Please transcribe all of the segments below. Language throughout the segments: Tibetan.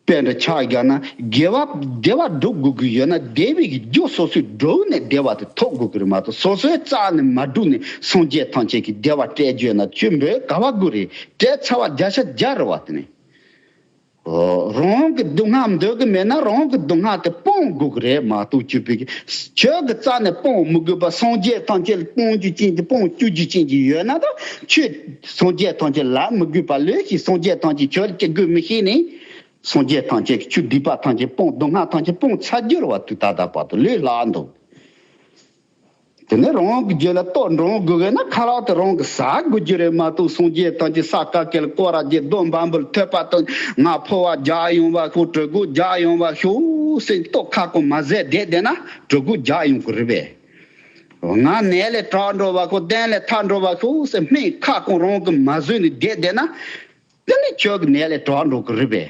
དཔེ་འདི་ཕྱག་རྒྱ་ན་དགེ་བ་བདེ་བ་སྒྲུབ་དགོས་ཀྱི་ཡོད་ན་བདེ་བའི་རྒྱུ་སོ་སོའི་སྒྲུབ་ནས་བདེ་བ་དེ་ཐོབ་དགོས་ཀྱི་རེད་མ་གཏོགས་སོ་སོའི་རྩ་ནས་མ་སྒྲུབ་ནས་སངས་རྒྱས་ཐམས་ཅད་ཀྱི་བདེ་བ་སྤྲད་བརྗོད་ན་བཅུ་འབོད་དགའ་བ་དགོས་རེད་སྤྲད་ཚར་བ་བརྒྱ་ཆ་བརྒྱ་རེད་བ་དེ་ནས། རང་གི་སྡུག་བསྔལ་འདོད་གི་མེད་ན་རང་གི་སྡུག་བསྔལ་དེ་སྤོང་དགོས་ཀྱི་རེད་མ་གཏོགས་བཅུ་པའི་ཆོས་ཀྱི་རྩ་ནས་སྤོང་མི་དགོས་པར་སངས་རྒྱས་ཐམས་ཅད་སྤོང་རྒྱུ་ཅན་གྱི་སྤོང་བཅུག་རྒྱུ་ཅན་གྱི་ཡོད་ན་དང་ཆོས་སངས་རྒྱས་ཐམས་ཅད་ལ་མི་དགོས་པར་ལོས་ཤིག་སངས་རྒྱས་ཐམས་ཅད་ཆོས་ལ་སྐྱེ་དགོས་མི་ཤེས་ནས་སངས་རྒྱས་ཐམས་ཅད་ཀྱི་ཆོས་སྡིག་པ་ཐམས་ཅད་སྤོང་སྡུག་བསྔལ་ཐམས་ཅད་སྤོང་ཚར་རྒྱུར་བ་དུས་ད་ལྟ་བར་དུ་ལོས་སླ་འདུག། དེ་ནས་རང་དབང་གི་རྒྱུ་ལ་ལྟོས་འགྲོ་འོང་དགོས་ན་ཁ་ལག་དེ་རང་གི་ཟ་དགོས་རྒྱུ་རེད་མ་གཏོགས་སངས་རྒྱས་ཐམས་ཅད་ས་ག་གལ་སྐོར་ར་རྒྱས་སྡོད་འབའ་འབུལ་ཐོད་པ་དང་ང་ཕོ་བ་རྒྱག་ཡོང་བ་ཤོག་གྲོད་དགུ་རྒྱག་ཡོང་བ་ཤོག་སེམས་རྟོགས་ཁ་སྐོང་མ་ཟད་བསྡད་བསྡད་ན་གྲོད་དགུ་རྒྱག་ཡོང་གི་རེད་པས། ང་ནད་ལས་དྲག་འགྲོ་བ་ཤོག་གཏན་ལས་ཐར་འགྲོ་བ་ཤོག་སེམས་སྨྲེང་ཁ་སྐོང་རང་གི་མ་བཟོས་ནས་བསྡད་བསྡད་ན། དེ་ནས་ཁྱོད་ཀྱི་ནད་ལས་དྲག་འགྲོ་གི་རེད་པས།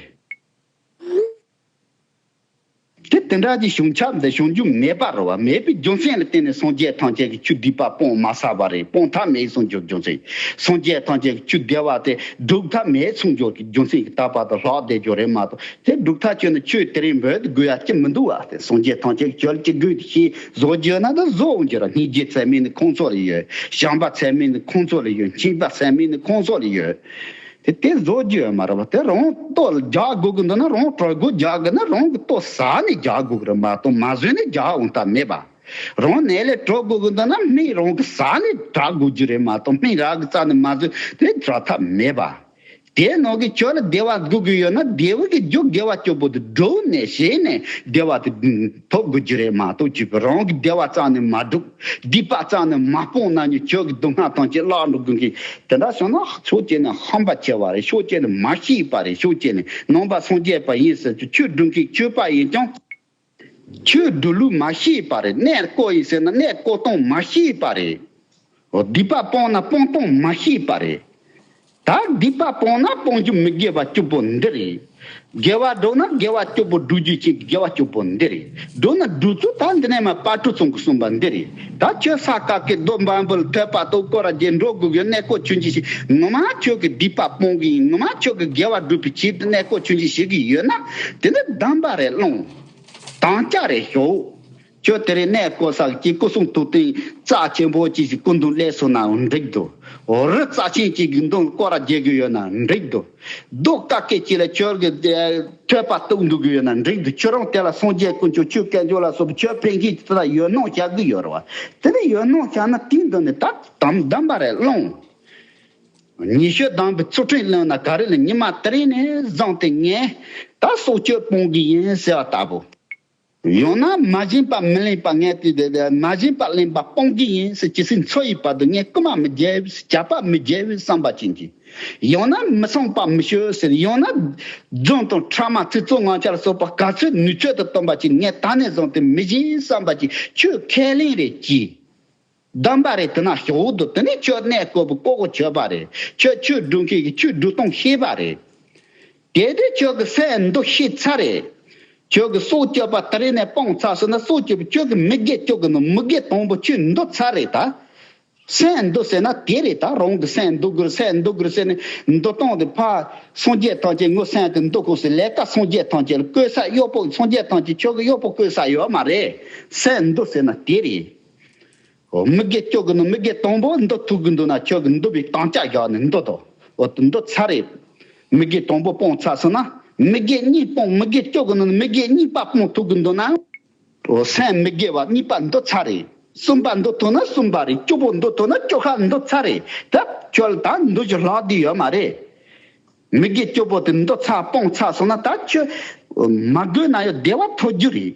དེ་དེ་འདྲ་གྱི་བྱུང་ཁྱབ་འདི་བྱུང་རྒྱུ་མེད་པར་བ་མེད་པའི་རྒྱུ་མཚན་ལ་བརྟེན་ནས་སངས་རྒྱས་ཐམས་ཅད་ཀྱི་ཆུ་སྡིག་པ་སྤོང་མ་ཟ་བ་རེད་སྤོང་ཐབས་མེད་ཟུང་འཇུག་རྒྱུ་མཚན་སངས་རྒྱས་ཐམས་ཅད་ཀྱི་ཆུ་བདེ་བ་དེ་སྒྲུབ་ཐབས་མེད་ཟུང་འཇུག་གི་རྒྱུ་མཚན་གྱི་ད་བར་དུ་ལྷག་བདེ་རྒྱུ་རེད་མ་གཏོགས་དེ་སྒྲུབ་ཐབས་ཆོས་ནི་ཆོས་དེ་རིང་འབོད་དུ་དགོས་ཡ་ཅི་མི་འདུག་བ་དེ་སངས་རྒྱས་ཐམས་ཅད་ཀྱི་ཆོས་ལ་ཅི་དགོས་དེ་ཤེས་བཟོ་རྒྱུ་ན་དེ་བཟོ་རྒྱུ་ར་སྙིང་རྗེ་ཚད་མེད་ནི་ཁོང་ཚོ་ལ་ཡོད་བྱམས་པ་ཚད་མེད་ནི་ཁོང་ཚོ་ལ་ཡོད་མཁྱེན་པ་ཚད་མེད་ནི་ཁོང་ཚོ་ལ་ཡོད། དེ་སྟེ་བཟོ་རྒྱུའི་མ་རབས་དེ་རང་ལྟོ་རྒྱག་དགོས་ཀྱི་འདུག་ན་རང་གྲོགས་དགུ་རྒྱག་དགོས་ན་རང་གི་ལྟོ་ཟ་ནས་རྒྱག་དགོས་ཀྱི་རེད་མ་གཏོགས་མ་བཟོས་ནས་རྒྱག་འོང་ཐབས་མེད་པ། རང་ནད་ལས་གྲོལ་དགོས་ཀྱི་འདུག་ན་སྨན་རང་གི་ཟ་ནས་དྲག་དགོས་རྒྱུ་རེད་མ་གཏོགས་སྨན་རང་གི་རྩ་ནས་མ་བཟོས་ནས་དྲག་ཐབས་མེད་པ། དེའི་ནང་གི་ཁྱོད་ལ་བདེ་བ་དགོས་ཀྱི་ཡོད་ན་རྡེའུ་གི་རྒྱུ་དགེ་བ་སྐྱོ་པོ་དེ་སྒྲོལ་ནས་བྱས་ནས་བདེ་བ་དེ། ཐོབ་དགོས་རྒྱུ་རེད་མ་གཏོགས་རྒྱུད་བོད་རང་གི་བདེ་བ་གཙང་ནས་མ་སྒྲུབ་སྡིག་པ་གཙང་ནས་མ་སྤོང་ན་ནི་ཁྱོད་ཀྱི་སྡུག་བསྔལ་ཐམས་ཅད་བརླག་འགྲོ་དགོས་ཀི་དེ་འདྲ་བྱུང་ན་ཕྱོགས་གཅིག་ནས་ཧམ་པ་ཆེ་བ་རེད་ཕྱོགས་གཅིག་ནས་མ་ཤེས་པ་རེད་ཕྱོགས་གཅིག་ནས་ནང་པ་སངས་རྒྱས་པ་ཡིན་ཟེར་ཚུལ་ཆོས་སྒྲུབ་མཁན་ཆོས་པ་ཡིན་ཀྱང་ཆོས་སྒྲུབ་ལུགས་མ་ཤེས་པ་རེད་གནས་བརྐོ་ཡིན་ཟེར་ན་གནས་བརྐོ་སྟངས་མ་ཤེས་པ་རེད། སྡིག་པ་སྤོང་ན་སྤོང་གཏོང་མ་ཤེས་པ་རེད། ད་སྡིག་པ་སྤོང་ན་སྤོང་རྒྱུ་མི་དགེ་བ་བཅུ་པོ་འདི་རེད། དགེ་བ་སྒྲུབ་ན་དགེ་བ་བཅུ་པོ་སྒྲུབ་རྒྱུ་གཅིག་དགེ་བ་བཅུ་པོ་འདི་རེད། སྒྲུབ་ན་སྒྲུབ་ཚུལ་ད་འདི་ནས་མ་དཔའ་གྲུ་ཚང་གིས་གསུངས་པ་འདི་རེད། ད་ཁྱོད་ས་སྐབས་ཀྱི་རྡོ་འབའ་འབུལ་ཐོད་པ་དང་སྐོར་ར་རྗེས་འགྲོ་དགོས་ཀྱི་གནས་སྐོར་ཆུ་འབྱིན་ཞིག་ངོ་མ་ཁྱོད་ཀྱི་སྡིག་པ་སྤོང་གི་ཡིན་ངོ་མ་ཁྱོད་ཀྱི་དགེ་བ་སྒྲུབ་པའི་ཕྱིར་དུ་གནས་སྐོར་ཆུ་འབྱིན་ཞིག་གི་ཡོད་ན་དེ་འདི་གདམས་པ་རེ་སློང། དམ་བཅའ་རེ་ཞུ། ཁྱོད་དེ་རིང་གནས་སྐོར་ས་ཀྱི་སྐུ་གསུང་ཐུགས་རྟེན་རྩ་ཆེན་པོ་གཅིག་གི་སྐུ་མདུན་ལས་སོང་ན་འགྲིག་འདུག་འོ་རི་རྩ་ཆེན་གཅིག་གི་མདུན་སྐོར་ར་རྒྱས་དགོས་ཡོད་ན་འགྲིག་འདུག་གདུགས་དཀར་སྐད་ཅིག་ལ་ཁྱོད་ཀྱི་ཐོད་པ་གཏུགས་འདུག་དགོས་ཡོད་ན་འགྲིག་འདུག་ཁྱོད་རང་དེ་ལ་སངས་རྒྱས་དཀོན་མཆོག་ཆོས་སྐལ་མཆོག་ལ་སོགས་ཁྱོད་ཕན་ཁེ་དེ་དག་ཡོད་སྣང་བྱ་གི་ཡོད་རེད་བ་དེ་ནི་ཡོད་སྣང་བྱ་ན་དེའི་མདུན་ནས་ད་དམ་བདམས་པ་རེ་སློང། ཉི་ཤུ་བདམས་པའི་ཚུལ་ཁྲིམས་ལོན་ན་ག་རེ་ལ་ཉི་མ་དེ་རིང་ནས་བཟང་སྟེ་ངས་ད་སྲོག་གཅོད་སྤོང་གི་ཡིན་ཟེར་བ་ལྟ་བུ། ཡང་ན་མ་བྱིན་པ་མི་ལེན་པ་ངས་དེ་དེ་དེ་མ་བྱིན་པ་ལེན་པ་སྤོང་གི་ཡིན་ཟེར་ཇི་སྲིད་འཚོ་ཡི་བར་དུ་ངས་རྐུན་མ་མི་རྒྱལ་བས་བྱ་བ་མི་རྒྱལ་བའི་བསམ་པ་བྱིན་གྱི། ཡང་ན་མི་བསྲུང་བ་མི་ཞུ་ཟེར་ཡང་ན། རྫུན་དང་ཕྲ་མ་ཚིག་རྩུབ་ངང་ཆར་ཟོས་པ་ག་ཚོད་ནུས་ཚོད་དུ་སྟོན་པ་བྱིན་ངས་ད་ནས་བཟུང་དེ་མི་བྱིན་བསམ་པ་བྱིན་ཁྱོས་ཁས་ལེན་རེ་གྱིས། གདམས་པ་རེད་དེ་ན་ཞོག་འོ་དོ་དེ་ནས་ཁྱོད་གནས་བསྐོར་བུ་བསྐོར་བོ་བྱོས་པ་རེད་ཁྱོད་ཆོས་སྒྲུབ་མཁན་གྱི་ཆོས་སྒྲུབ་སྟངས་ཤེས་པ་རེད། གལ་ཏེ་ཁྱོད་ཀྱི་སའི་འདུ་ཤེས་ཚ་རེད། ཁྱོད་ཀྱི་སྲོག་སྐྱོབ་པ་དེ་རེ་ནས་སྤང་ཚ་བྱས་ན་སྲོག་སྐྱོབ་པའི་ཁྱོད་ཀྱི་མི་དགེ་ཁྱོད་ཀྱི་ནང་མི་དགེ་དང་པོ་ཁྱོད་འདུ་ཚ་རེད་ད། སའི་འདུ་ཟེར་ན་དེ་རེད་ད་རང་གི་སའི་འདུ་དགོས་སའི་འདུ་དགོས་ཟེར་ནས་འདུ་སྟངས་དེ་ཕ། སངས་རྒྱས་ཐམས་ཅད་ངོ་སའི་གི་འདུ་གོང་ཟེར་ལས་ཀ་སངས་རྒྱས་ཐམས་ཅད་ལ་བསྐོས་ས་གཡོག་པོ་སངས་རྒྱས་ཐམས་ཅད་ཁྱོད་ཀྱི་གཡོག་པོ་བསྐོས་ས་ཡོད་མ་རེད། སའི་འདུ་ཟེར་ན་དེ་རེད། མི་དགེ་སྐྱོ་གི་ནི་མི་དགེ་དང་པོ་འདི་ཐུག་གི་འདུག་ན་ཁྱོད་ཀྱི་འདུ་བའི་དང་ཅག་བཞག་ནས་འདི་དང་འདི་ཚར་རེ། མི་དགེ་དང་པོ་སྤོང་ཚར་སོང་ན་མི་དགེ་གཉིས་སྤོང་མི་དགེ་སྐྱོ་གི་ནི་མི་དགེ་གཉིས་པ་སྤོང་ཐུག་གི་འདུག་ན། སེམས་མི་དགེ་བ་གཉིས་པ་འདི་ཚར་རེ། གསུམ་པ་འདི་ཐུག་ན་གསུམ་པ་རེ་བཅུ་པོ་འདི་ཐུག་ན་བཅུ་ཤ་འདི་ཚར་རེ་ད་ཁྱོད་ལ་ད་འདུ་བྱེད་ལྷག་དུས་ཡོད་མ་རེད། མི་དགེ་སྐྱོ་པོ་དེ་འདི་ཚར་སྤོང་ཚར་སོང་ན་ད་ཁྱོད། མ་དགོས་ན་ཡོད་བདེ་བ་ཐོབ་རྒྱུ་རེད།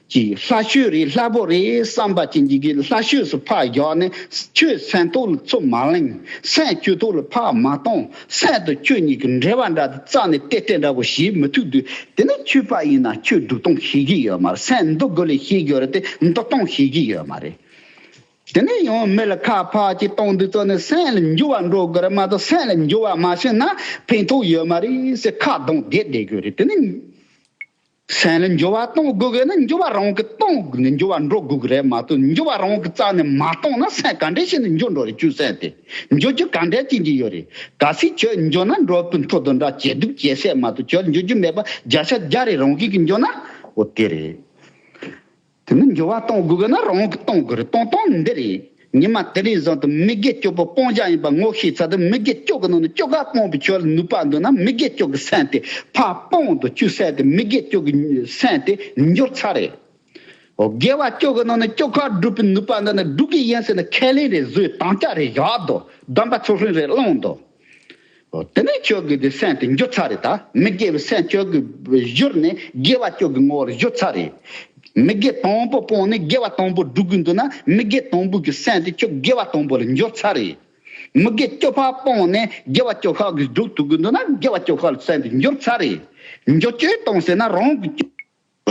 ཀྱིས་ལྷ་ཤོད་རེད་ལྷ་པོ་རེད་བསམ་པ་ཅན་གྱིས་ཀྱིས་ལྷ་ཤོད་སུ་ཕག་བཞག་ནས་ཁྱོད་སེང་ཐོག་ལ་ཚུར་མ་གླེང་སེང་སྐྱུ་ཐོག་ལ་ཕག་མ་གཏོང་སེང་དང་ཁྱོད་གཉིས་ཀྱི་འབྲེལ་བ་འདྲ་སྟེ་རྩ་ནས་ཏེ་ཏེ་འདྲ་བོ་ཞེས་མི་ཐུག་དུས་དེ་ནས་ཁྱོད་ཕག་ཡིན་ན་ཁྱོད་འབྲུག་སྟོང་ཤེས་ཀྱི་ཡོད་མ་རེད་སེང་འབྲུག་དགུ་ལས་ཤེས་ཀྱི་ཡོད་རེད་དེ་འབྲུག་སྟོང་ཤེས་ཀྱི་ཡོད་མ་རེད། དེ་ནས་ཡང་མི་ལ་ཁ་ཕག་ཅིག་གཏོང་དུས་རྩ་ནས་སེང་ལ་འགྱུར་བ་འགྲོ་དགོས་རེད་མ་གཏོགས་སེང་ལ་འགྱུར་བ་མ་བྱུང་ན་ཕན་ཐོགས་ཡོད་མ་རེད་ཟེར་ཁ་གདངས་བསྡད་བསྡད་དགོས་རེད་དེ་ནས། སེམས་ལ་འགྱུར་བ་གཏོང་དགོས་དགོས་ན་འགྱུར་བ་རང་གིས་གཏོང་འགྱུར་བ་འགྲོ་དགོས་ཀྱི་རེད་མ་གཏོགས་འགྱུར་བ་རང་གིས་རྩ་ནས་མ་གཏོང་ན་སེམས་ག་འདྲའི་ཞིག་ནས་འགྱུར་འགྲོ་རེད་ཆུ་སེམས་དེ་འགྱུར་རྒྱུ་ག་འདྲའི་གཅིག་འགྱིག་ཡོད་རེད་ག་སྲིད་ཁྱོད་འགྱུར་ན་འགྲོ་དཔོན་ཐོ་དོ་འདྲ་ཇེ་སྡུག་ཇེ་སད་མ་གཏོགས་ཁྱོད་འགྱུར་རྒྱུ་མེད་པ་བརྒྱ་ཆ་བརྒྱ་རེད་རང་གིས་གི་འགྱུར་ན་འོ་དེ་རེད། དེ་ནི་འགྱུར་བ་གཏོང་དགོས་དགོས་ན་རང་གིས་གཏོང་དགོས་རེད་གཏོང་སྟངས་འདི་རེད། ཉི་མ་དེ་ལས་བཟང་དུ་མི་དགེ་སྐྱོ་པོ་སྤོང་བྱ་ཡིན་པ་ངོ་ཤེས་ཚར་དུས་མི་དགེ་སྐྱོ་གི་ནང་ནས་སྐྱོ་གར་སྤོང་པའི་ཆོས་ལ་ནུས་པ་འདོན་ན་མི་དགེ་སྐྱོ་གི་སེམས་དེ་ཕ་སྤོང་དུ་བཅུག་ཟེར་ཏེ་མི་དགེ་སྐྱོ་གི་སེམས་དེ་འགྱུར་ཚར་རེད། འོ་དགེ་བ་སྐྱོ་གི་ནང་ནས་སྐྱོ་གར་སྒྲུབ་པའི་ནུས་པ་འདོན་ན་སྒྲུབ་གི་ཡིན་ཟེར་ན་ཁས་ལེན་རེད་བཟོའི་དམ་བཅའ་རེད་བཞག་དོ་བདམས་པ་ཚུར་ལྷུན་རེད་བླངས་དོ། དེ་ནས་ཁྱོད་ཀྱི་དེ་སེམས་དེ་འགྱོད་ཚར་རེད་ད། མི་དགེ་བའི་སེམས་ཁྱོད་ཀྱི་བཞུར་ནས་དགེ་བ་ཁྱོད་ཀྱི་ངོ་བོར་བཞུར་ཚར་རེད། མི་དགེ་དང་པོ་སྤོང་ནས་དགེ་བ་དང་པོ་སྒྲུབ་དགོས་འདུག་ན་མི་དགེ་དང་པོ་གི་སེམས་དེ་ཁྱོད་དགེ་བ་དང་པོ་ལ་འགྱོད་ཚར་རེད། མི་དགེ་བཅོ་བརྒྱད་སྤོང་ནས་དགེ་བ་བཅོ་བརྒྱད་གིས་སྒྲུབ་ཐུབ་དགོས་འདུག་ན་དགེ་བ་བཅོ་བརྒྱད་ལ་སེམས་དེ་འགྱོད་ཚར་རེད། འགྱོད་བཅོས་གཏོང་ཟེར་ན་རང་གི།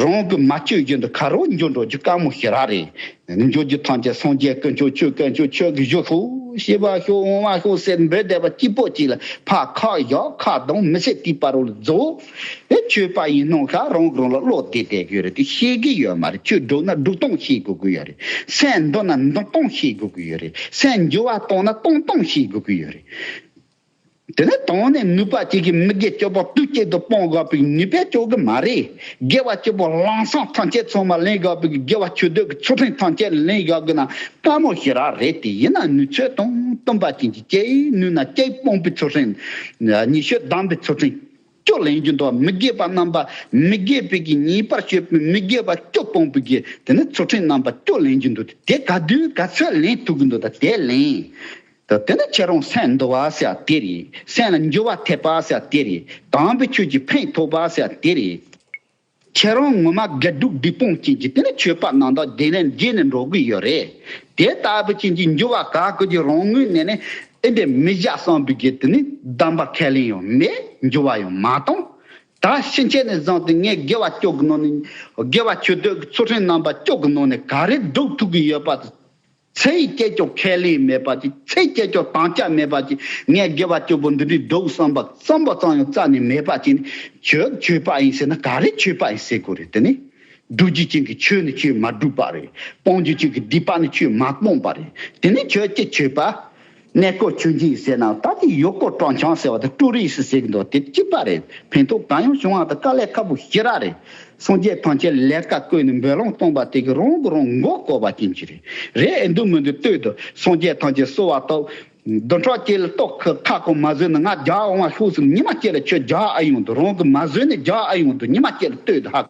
རང་གི་མ་བཅོས་རྒྱུན་དུ་ག་རོ་འགྱོ་འགྲོ་རྒྱུ་དཀའ་མོ་ཞེ་ར་རེ། འགྱོ་རྒྱུ་ཐམས་ཅད་སངས་རྒྱས་ཀུན་སྐྱོང་ཆོས་ཀུན་སྐྱོང་ཆོས་ཀྱི་གཞུ་ཧྲུལ་ཞེས་པ་ཞོག་འོང་བ་ཞོག་ཟེར་འབོད་བསྡད་པ་སྐྱིད་པོ་ཅིག་ལ་ཕ་ཁ་བཞག་ཁ་གདངས་མི་བྱེད་དུས་པར་བུ་ལ་རྫོགས། ཨེ་ཆོས་པ་ཡིན་སྣང་ཤག་རང་གི་རང་ལ་བློ་བདེ་བསྡད་དགོས་རེད་དེ་ཤེས་ཀྱི་ཡོད་མ་རེད་ཆོས་སྒྲུབ་ན་སྒྲུབ་སྟངས་ཤེས་དགོས་ཀྱི་ཡོད་རེད་སེམས་འདོར་ན་འདོར་སྟངས་ཤེས་དགོས་ཀྱི་ཡོད་རེད་སེམས་འགྱོ་བ་གཏོང་ན་གཏོང་སྟངས་ཤེས་དགོས་ཀྱི་ཡོད་རེད། དེ་ནི་དོང་ནས་ནུས་པ་གཅིག་གིས་མི་དགེ་སྤྱོད་པོ་བདུད་སྐྱེད་དུ་སྤོང་དགོས་པའི་ནུས་པས་སྤྱོད་ཀྱི་མ་རེད། དགེ་བ་སྤྱོད་པོ་རླངས་བསངས་ཐམས་ཅད་ཚང་མ་ལེན་དགོས་པའི་དགེ་བ་ཆོས་སྡུད་ཀྱི་ཆོ་འཕྲིན་ཐམས་ཅད་ལེན་དགོས་ཀྱི་ན་དཀའ་མོ་ཞིག་རག་རེད་དེ་ཡིན་ན་ནུས་ཚོད་དང་བསྟུན་པ་ཅན་གྱི་སྐྱེ་ཡི་ནུས་ན་སྐྱེ་སྤོང་པའི་ཆོ་འཕྲིན། ཉི་ཤུ་གདམས་པའི་ཆོ་འཕྲིན། སྤྱོད་ལེན་རྒྱུ་འདོགས་མི་དགེ་བ་རྣམ་པ་མི་དགེ་བའི་གིས་ཉེས་པར་སྤྱོད་པའི་མི་དགེ་བ་སྐྱོ་སྤོང་པའི་གིས་དེ་ནི་ཆོ་འཕྲིན་རྣམ་པ་སྐྱོ་ལེན་རྒྱུ་འདོགས་དེ་ག་དུས་ག་ཚོད་ལེན་ཐུབ་ཀྱི་འདོད་ད་དེ་ལེན། དེ་ནི་སྐྱེ་རུང་སེམས་འདུ་བ་ཟེར་བ་དེ་རེད། སེམས་ལ་འགྱུ་བ་ཐེབས་པ་ཟེར་བ་དེ་རེད། དྭངས་པའི་ཆོས་ཀྱི་ཕན་ཐོགས་པ་ཟེར་བ་དེ་རེད། ཁྱེད་རང་ངོ་མ་དགེ་སྡུག་སྡིག་སྤོང་རྐྱེན་གྱིས་དེ་ནི་ཆོས་པ་ནང་དག་བདེ་ལེན་བགྱིད་ནས་འགྲོ་གི་ཡོད་རེད། དེ་ལྟ་བུའི་རྐྱེན་གྱིས་འགྱུ་བ་ག་གོས་ཀྱི་རང་ངོས་ནས་ནི་ཨེ་འདྲས་མི་བཞག་བསམ་པའི་གེ་དེ་ནི་བདམས་པར་ཁས་ལེན་ཡང་མེད་འགྱུ་བ་ཡང་མ་བཏང། ད་ཕྱིན་ཆད་ནས་བཟང་སྟེ་ངས་དགེ་བ་སྐྱོ་གི་ནང་ནས་དགེ་བ་ཆོས་འདོད་ཀྱི་ཚུལ་ཁྲིམས་རྣམ་པ་སྐྱོ་གི་ནང་ནས་ག་རེ་སྒྲུབ་ཐུབ་ཀྱི་ཡོད་པ་དེ་ཚེ་ཡི་སྐྱེད་ཀྱོག་ཁས་ལེན་མེད་པར་གྱིས་ཚེ་སྐྱེད་ཀྱོག་དང་སྐྱ་མེད་པར་གྱིས་ངས་དགེ་བ་སྐྱོ་པོ་འདི་འདྲའི་སྡུག་བསམ་པ་བརྩམས་པ་ཙམ་ཡང་རྩ་ནས་མེད་པར་གྱིས་ནི་ཁྱོད་ཁྱོད་པ་ཡིན་ཟེར་ན་ག་རེ་ཁྱོད་པ་ཡིན་ཟེར་དགོས་རེད་དེ་ནི། སྒྲུབ་བྱེད་ཅན་གྱི་ཆོས་ནི་ཁྱོད་མ་སྒྲུབ་པ་རེད་སྤོང་བྱེད་ཅན་གྱི་སྡིག་པ་ནི་ཁྱོད་མ་སྤོངས་པ་རེད་དེ་ནི་ཁྱོད་ཀྱི་ཁྱོད་པ། གནས་སྐོར་ཆུ་འཛིན་ཟེར་ནའང་ད་ནི་ཡུལ་སྐོར་སྤྲང་ཆང་ཟེར་བ་དང་ཀྲུ་རིས་ཟེར་གྱི་འདུག་དེ་ཅི་པ་རེད་ཕན་ཐོག་གང་ཡང་བྱུང་བ་དང་དཀའ་ལས་ཁ་པོ་ཞེ་དྲག་རེད། སངས་རྒྱས་ཐང་ཆེན་ལས་བཀའ་བཀོད་ནས་འབོད་ལམ་སྟོང་པ་དེ་གའི་རང་གི་རང་མགོ་བསྐོར་བ་ཅན་གྱི་རེད། རེད་ཨེ་འདུག་མི་འདུག་ལྟོས་དང་སངས་རྒྱས་ཐང་ཆེན་གསོལ་བ་ཐོབ། བདུན་ཕྲག་བཅས་ལ་ཏོག་ཁི་ཁ་སྐོང་མ་བཟོས་ན་ང་རྒྱ་འོང་བ་ལྷུག་བསམ་ཉི་མ་བསྐྱེད་ལ་ཁྱོད་རྒྱ་ཨེ་ཡོང་འདུག་རང་གི་མ་བཟོས་ནས་རྒྱ་ཨེ་ཡོང་འདུག་ཉི་མ་བསྐྱེད་ལ་ལྟོས་དང་ཧ།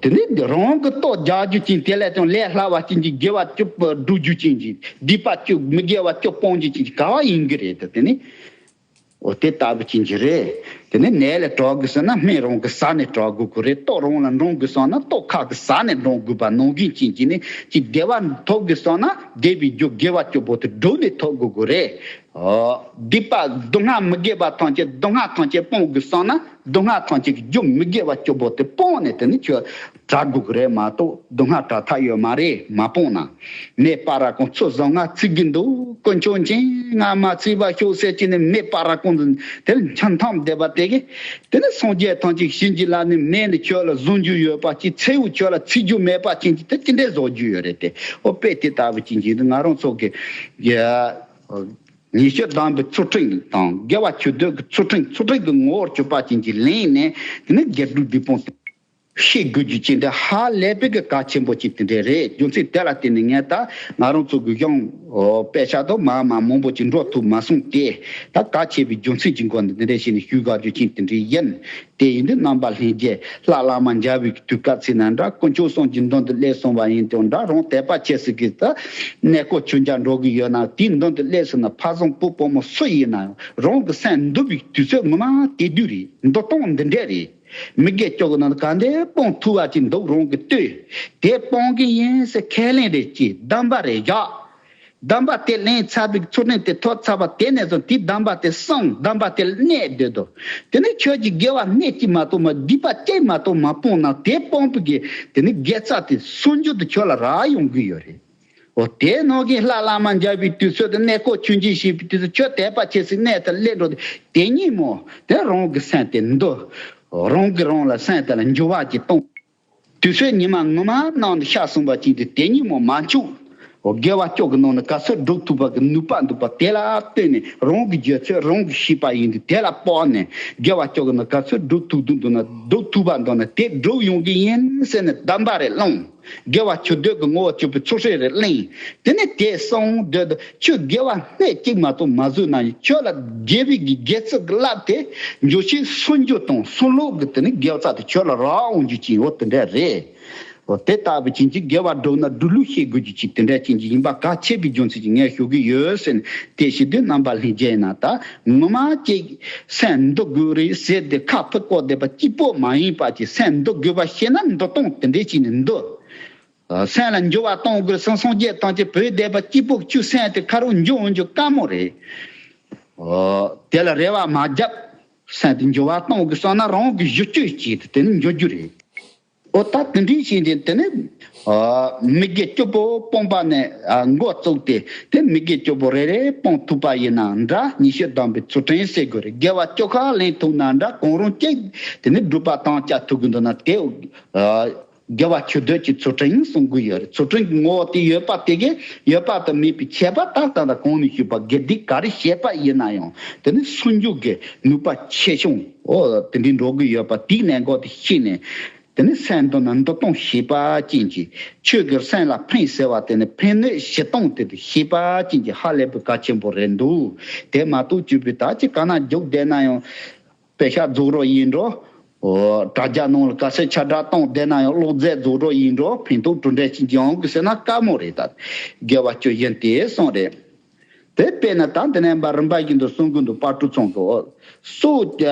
དེ་ནས་རང་དབང་གི་རྟོགས་རྒྱག་རྒྱུ་ཅན་དེ་ལས་ཀྱང་ལས་སླ་བ་ཅན་གྱི་དགེ་བ་སྐྱོབ་པར་སྒྲུབ་རྒྱུ་ཅན་གྱི་སྡིག་པ་སྐྱོབ་མི་དགེ་བ་སྐྱོབ་སྤོང་རྒྱུ་ཅན་གྱི་དགའ་བ་ཡིན་གྱི་རེད་དོ་དེ་ནི། དེ་ལྟ་བུ་ཅན་གྱི་རེད། དེ་ནས་ནད་ལས་དྲག་དགོས་སོང་ན་སྨན་རང་གི་ཟ་ནས་དྲག་དགོས་ཀྱི་རེད་ལྟོགས་རང་ལ་འདྲོངས་དགོས་སོང་ན་ལྟོགས་ཁག་གི་ཟ་ནས་འདྲོངས་དགོས་པ་ནང་བཞིན་ཅན་གྱི་ནི་ཅི་བདེ་བ་འཐོབ་དགོས་སོང་ན་བདེ་བའི་རྒྱུ་དགེ་བ་སྐྱོབ་པོ་དེ་སྒྲུབ་ནས་འཐོབ་དགོས་ཀྱི་རེད། སྡིག་པ་སྡུག་བསྔལ་མི་དགེ་བ་ཐམས་ཅད་སྡུག་བསྔལ་ཐམས་ཅད་སྤོང་དགོས་སོང་ན། སྡུག་བསྔལ་ཐང་ཅིག་རྒྱུ་མི་དགེ་བ་སྐྱོ་པོ་དེ་སྤོང་ནས་དེ་ནི་ཁྱོད་དགྲ་དགུག་རེད་མ་གཏོགས་སྡུག་བསྔལ་དྲག་ཐག་ཡོད་མ་རེད་མ་སྤོང་ན། མེད་པ་ར་ཀོང་ཚོ་བཟང་ང་བརྩི་གི་འདུག་དཀོན་མཆོག་མཁྱེན་ང་མ་བརྩི་བ་ཤོག་ཟེར་གྱི་ནི་མེད་པ་ར་ཀོང་དེར་འཆམ་མཐའམ་བསྡད་པ་དེ་གས་དེ་ནི་སངས་རྒྱས་ཐང་ཅིག་བྱིན་གྱིས་རླབས་ནས་མེ་ནི་ཁྱོད་ལ་བཟུང་རྒྱུ་ཡོད་པ་གཅིག་ཚེའུ་ཁྱོད་ལ་བརྩི་རྒྱུ་མེད་པ་བྱིན་གྱིས་དེ་ཅི་འདྲའི་བཟོ་རྒྱུ་ཡོད་རེད་དེ་ཨོ་དཔེ་དེ་ལྟ་བུ་བྱིན་གྱིས་ང་རང་ཚོ་གི། ཉི་ཤུ་གདངས་པའི་ཚུལ་ཁྲིམས་དང་དགེ་བ་ཆོས་འདོད་ཀྱི་ཚུལ་ཁྲིམས་ཚུལ་ཁྲིམས་ཀྱི་ངོ་བོར་སྤྱོད་པ་བྱིན་གྱིས་ལེན་ནས་དེ་ནི་རྒྱལ་སྤྲུལ་བདུད་དཔུང་སྟེ། ཤེས་དགོས་རྒྱུ་ཅི་འདྲ་ཧ་ལས་པའི་གི་ག་ཆེན་པོ་ཅིག་དེ་འདྲས་རེད་རྒྱུ་མཚན་དེ་ལ་བརྟེན་ནས་ངས་ད་ང་རང་ཚོ་གུ་ཞང་པས་ཤ་དོ་མ་མ་མང་པོ་ཅིག་འགྲོ་ཐུབ་མ་སོང་སྟེ། ད་ག་ཆེ་བའི་རྒྱུ་མཚན་གྱི་མགོ་ནས་དེ་འདྲས་བྱས་ནས་ཞུས་དགའ་རྒྱུ་ཅན་དེ་འདྲས་ཡིན་དེ་ཡིན་དུས་རྣམ་པ་ལྷན་རྒྱས་ལྷ་བླ་མ་འཇའ་འོད་ཀྱི་དུས་སྐབས་ཚིག་ན་འདྲ་དཀོན་མཆོག་སངས་ཀྱི་མདུན་དུ་སླེབས་སོང་བ་ཡིན་དུས་འདྲ་རང་དད་པ་སྐྱེ་སྲིད་ཀྱི་ཏེ། གནས་སྐོར་ཁྱོད་ཅག་འགྲོ་གི་ཡོད་ན་དེའི་མདུན་དུ་སླེབས་སོང་ན་ཕ་བཟང་བུ་བུ་མོ་སུ་ཡིན་ནའང་རང་གི་སེམས་འདུལ་བའི་དུས་ཚོད་ངོ་མ་དེ་དུས་རེད་མདོ་སྟངས་འདི་འདྲས་རེད། མི་དགེ་སྐྱོ་གི་ནང་དུ་ག་འདི་སྤོང་ཐུབ་བ་ཅིག་འདུག་རང་གིས་ལྟོས་དེ་སྤོང་གི་ཡིན་ཟེར་ཁས་ལེན་རེ་ཅིག་གདམས་པ་རེ་བཞག་གདམས་པ་དེ་ལན་ཚྭ་བིག་ཚུར་ལེན་དེ་ཐོག་ཚ་བ་དེ་ནས་བཟུང་དེའི་གདམས་པ་དེ་གསང་གདམས་པ་དེ་གནས་སྡོད་དོ། དེ་ནས་ཁྱོད་ཀྱིས་དགེ་བ་སྣེ་གཅིག་མ་གཏོགས་མ་བསྡུས་པ་གཅིག་མ་གཏོགས་མ་སྤོང་ན་དེ་སྤོང་པོ་གི་དེ་ནི་དགེ་རྩ་དེ་སོན་རྒྱུ་དེ་ཁྱོད་ལ་རག་ཡོང་གི་ཡོད་རེད། འོ་དེ་ནོར་གིན་ལྷ་བླ་མ་འབྱར་བའི་དུས་ཚོད་དེ་གནས་སྐོར་ཆུ་འབྱིན་བྱེད་པའི་དུས་ཚོད་ཁྱོད་དད་པ་ཆེ་སའི་གནས་དེར་སླེབས་འགྲོ་དེ་དེ་ཉིན་མོ་དེ་རང་གི་སེམས་དེ་འདུལ། རང་གིས་རང་ལ་སེམས་དེ་ལ་འགྱུར་བ་གཅིག་གཏོང། དུས་ཚོད་ཉི་མ་ངོ་མ་གནང་འདི་ཤག་གསུངས་པ་གཅིག་འདི་དེ་ཉིན་མོ་མ་འཁྱུག། སྒལ་བ་སྐྱོག་གི་ནང་ནས་ག་ཚོད་སྒྲུབ་ཐུབ་པ་གི་ནུས་པ་འདུག་པ་དེ་ལ་ལྟོས་ནས་རང་གི་འཇོན་ཚོད་རང་གིས་ཤེས་པ་ཡིན་འདི་དེ་ལ་དཔག་ནས་སྒལ་བ་སྐྱོག་གི་ནང་ག་ཚོད་སྒྲུབ་ཐུབ་རྒྱུ་འདུག་ན་སྒྲུབ་ཐུབ་པ་འདུག་ན་དེ་སྒྲུབ་ཡོང་གི་ཡིན་ཟེར་ནས་བདམས་པ་རེ་བླངས། སྒལ་བ་ཁྱོད་སྡོད་ཀྱི་ངོ་བོ་སྤྱོད་པའི་ཚོགས་ཧྲིལ་རེ་གླེང། དེ་ནས་དེས་སོང་སྡོད། ཁྱོད་དགེ་བ་སྣེ་གཅིག་མ་གཏོགས་མ་བཟོས་ན་ཡང་ཁྱོད་ལ་དགེ་བའི་དགེ་རྩ་གི་རླབས་དེ་འབྱོར་ཕྱིན་སུན་རྒྱུ་དང་སུན་ལོག་གི་དེ་ནི་དགེ་བ་རྩ་དེ་ཁྱོད་ལ་རག་འོང་རྒྱུ་ཅན་ཡོད་དེ་འདྲ་རེད། འོ་དེ་ལྟ་བུ་ཅན་གྱི་དགེ་བ་སྒྲུབ་ན་སྒྲུབ་ལུགས་ཤེས་དགོས་རྒྱུ་ཅིག་དེ་འདྲ་ཅན་གྱི་ཡིན་པ་ག་ཁྱེད་ཀྱི་རྒྱུ་མཚན་གྱིས་ངས་ཞུ་གི་ཡོད་ཟེར་ནས་དེ་ཞིག་དུས་ནམ་པ་ལྷན་རྒྱས་ན་ད་ངོ་མ་ཅིག་སེམས་འདུལ་དགོས་རེད་ཟེར་ཏེ་ཁ་ཕུད་བཀོག་བསྡད་པ་གཅིག་པོ་མ་ཡིན་པ་ཅིག་སེམས་འདུལ་དགོས་པ་ཤེས་ན་འདུལ་སྟངས་དེ་འདྲས་ཅིག་ནས་འདུལ། སེམས་ལ་འགྱུར་བ་གཏོང་དགོས་སེམས་སངས་རྒྱས་བཏང་སྟེ་བོད་སྡེ་པ་སྐྱིད་པོ་བཅུ་གསན་ཏེ་ཁ་རུ་འཇུག་འོང་རྒྱུ་དཀའ་མོ་རེད། དེ་ལ་རེ་བ་མ་བརྒྱབ། གསན་ཏེ་འགྱུར་བ་གཏོང་དགོས་བསམ་ན་རང་གི་བཞུ་བཅོས་བྱས་ཏེ་དེ་ནས་འགྱུར་རྒྱུ་རེད། འོ་ད་དེ་འདྲས་བྱས་ཏེ་དེ་ནས་མི་དགེ་བཅུ་པོ་སྤོང་པ་ནས་འགོ་བཙུགས་ཏེ་དེ་མི་དགེ་བཅུ་པོ་རེ་རེ་སྤོང་ཐུབ་པ་ཡིན་ན་འདྲ་ཉི་ཤུ་བདམས་པའི་ཚུལ་ཕྲན་བསྲེ་དགོས་རེད་དགེ་བ་བཅུ་ཁ་ལེན་ཐུབ་ན་འདྲ་གང་རུང་གཅིག་དེ་ནས་སྒྲུབ་པ་དང་བཅའ་ཐུབ་གི་འདུག་ན་དེ། དགེ་བ་ཆོས་བརྒྱད་ཀྱི་ཚུལ་ཁྲིམས་ཡིན་གསུང་གི་ཡོད་རེད་ཚུལ་ཁྲིམས་ཀྱི་ངོ་བོ་དེ་ཡོད་པ་དེ་གས་ཡོད་པ་དང་མེད་པའི་ཁྱད་པར་ལྟ་སྟངས་དང་གོང་ནས་ཞུས་པ་དགེ་སྡིག་ག་རེ་བཤད་པ་ཡིན་ན་ཡང་དེ་ནི་སུན་འཇུག་གི་ནུས་པ་ཆེ་ཆུང་འོ་དེ་འདྲའི་འགྲོ་གི་ཡོད་པ་དེའི་གནད་འགག་དེ་ཤེས་ནས་དེ་ནི་སེམས་དོན་ནང་འདུ་སྟངས་ཤེས་པ་ཅན་གྱི་ཆོས་ཀྱི་སེམས་ལ་ཕན་ཟེར་བ་དེ་ནི་ཕན་གནོད་བྱེད་སྟངས་དེ་དེ་ཤེས་པ་ཅན་གྱི་ཧ་ལས་པའི་བཀའ་ཆེན་པོ་རེད་འདུག་དེ་མ་གཏོགས་བཅོས་པའི་དག་ཅིག་ག་ན་རྒྱུགས་བསྡད་ན་ཡང་དཔེ་ཆ་རྫོགས་རོགས་ཡིན་འགྲོ། དྲ་རྒྱ་ནང་ལ་ག་ཚད་ཆ་སྒྲ་གཏོང་བསྡད་ན་ཡང་ཀློག་རྫས་རྫོགས་རོགས་ཡིན་འགྲོ་ཕན་ཐོག་གྲུ་འདྲེན་ཅིག་ཡོང་དགོས་ཟེར་ན་དཀའ་མོ་རེད་ད། དགེ་བ་སྤྱོད་བཞིན་དེ་སོང་རེད། དེ་དཔེ་ན་ད་འདི་ནས་འབའ་རིན་པ་ཞིག་འདུག་གསུང་གི་འདུག་པར་གྲུ་ཚང་གི་འོག་སོགས།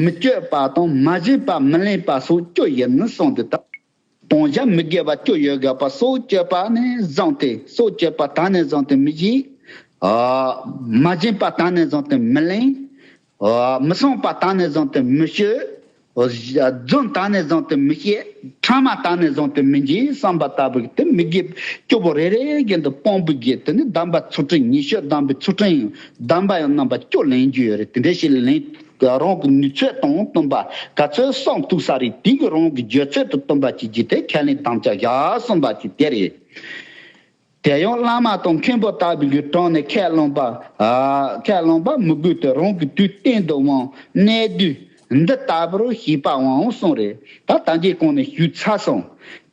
མི་སྤྱོད་པ་དང་མ་གཞི་པ་མི་ལེན་པ་སོགས་སྤྱོད་བཞིན་སོང་དུས་ད། གདོང་བཞག་མི་དགེ་བ་སྐྱོ་ཡོད་དགའ་བ་སྲོག་གཅོད་པ་ནས་བཟུང་སྟེ་སྲོག་གཅོད་པ་དག་ནས་བཟུང་སྟེ་མི་གཞིག། མ་བྱིན་པ་དག་ནས་བཟུང་སྟེ་མི་གླེང། མི་བསྲུང་བ་དག་ནས་བཟུང་སྟེ་མི་བཤོལ། རྫུན་དག་ནས་བཟུང་སྟེ་མི་བཤད། འཕྲང་མ་དག་ནས་བཟུང་སྟེ་མི་འབྱིན་བསམ་པ་ལྟ་བུ་གྱིས་ཏེ་མི་དགེ་བའི་སྐྱོ་པོ་རེ་རེའི་གན་དུ་སྤོང་པོ་བརྒྱད་དེ་ནི་གདམས་པ་ཚུལ་ཁྲིམས་ཉི་ཤུ་གདམས་པའི་ཚུལ་ཁྲིམས་ཡིན་གདམས་པ་ཡང་རྣམ་པ་བཅུ་ལེན་རྒྱུ་ཡོད་རེད་དེ་འདྲ་ཞིག་ལེན། གི་རང་གི་ནུས་ཚོད་དང་བསྟུན་པ་ག་ཚོད་བསགས་འདུག་བསགས་རིགས་དེ་གི་རང་གི་འཇོད་ཚོད་དུ་བསྟུན་པ་བྱེད་རྒྱུ་དེ་ཁས་ལེན་དམ་བཅའ་བཞག་གསུངས་པ་ཞིག་དེ་རེད། དེ་ཡང་བླ་མ་དང་མཁན་པོ་ལྟ་བུ་གི་དྲུང་ནས་ཁས་བླངས་པ། ཁས་བླངས་པ་མི་དགོས་ཏེ་རང་གི་དུས་གཏན་དུ་དབང་གནས་དུས་འདི་ལྟ་བུར་བྱས་པའང་གསུངས་རེད་ད་ད་འགྱེད་གང་ནས་ཞུས་ཚར་སོང་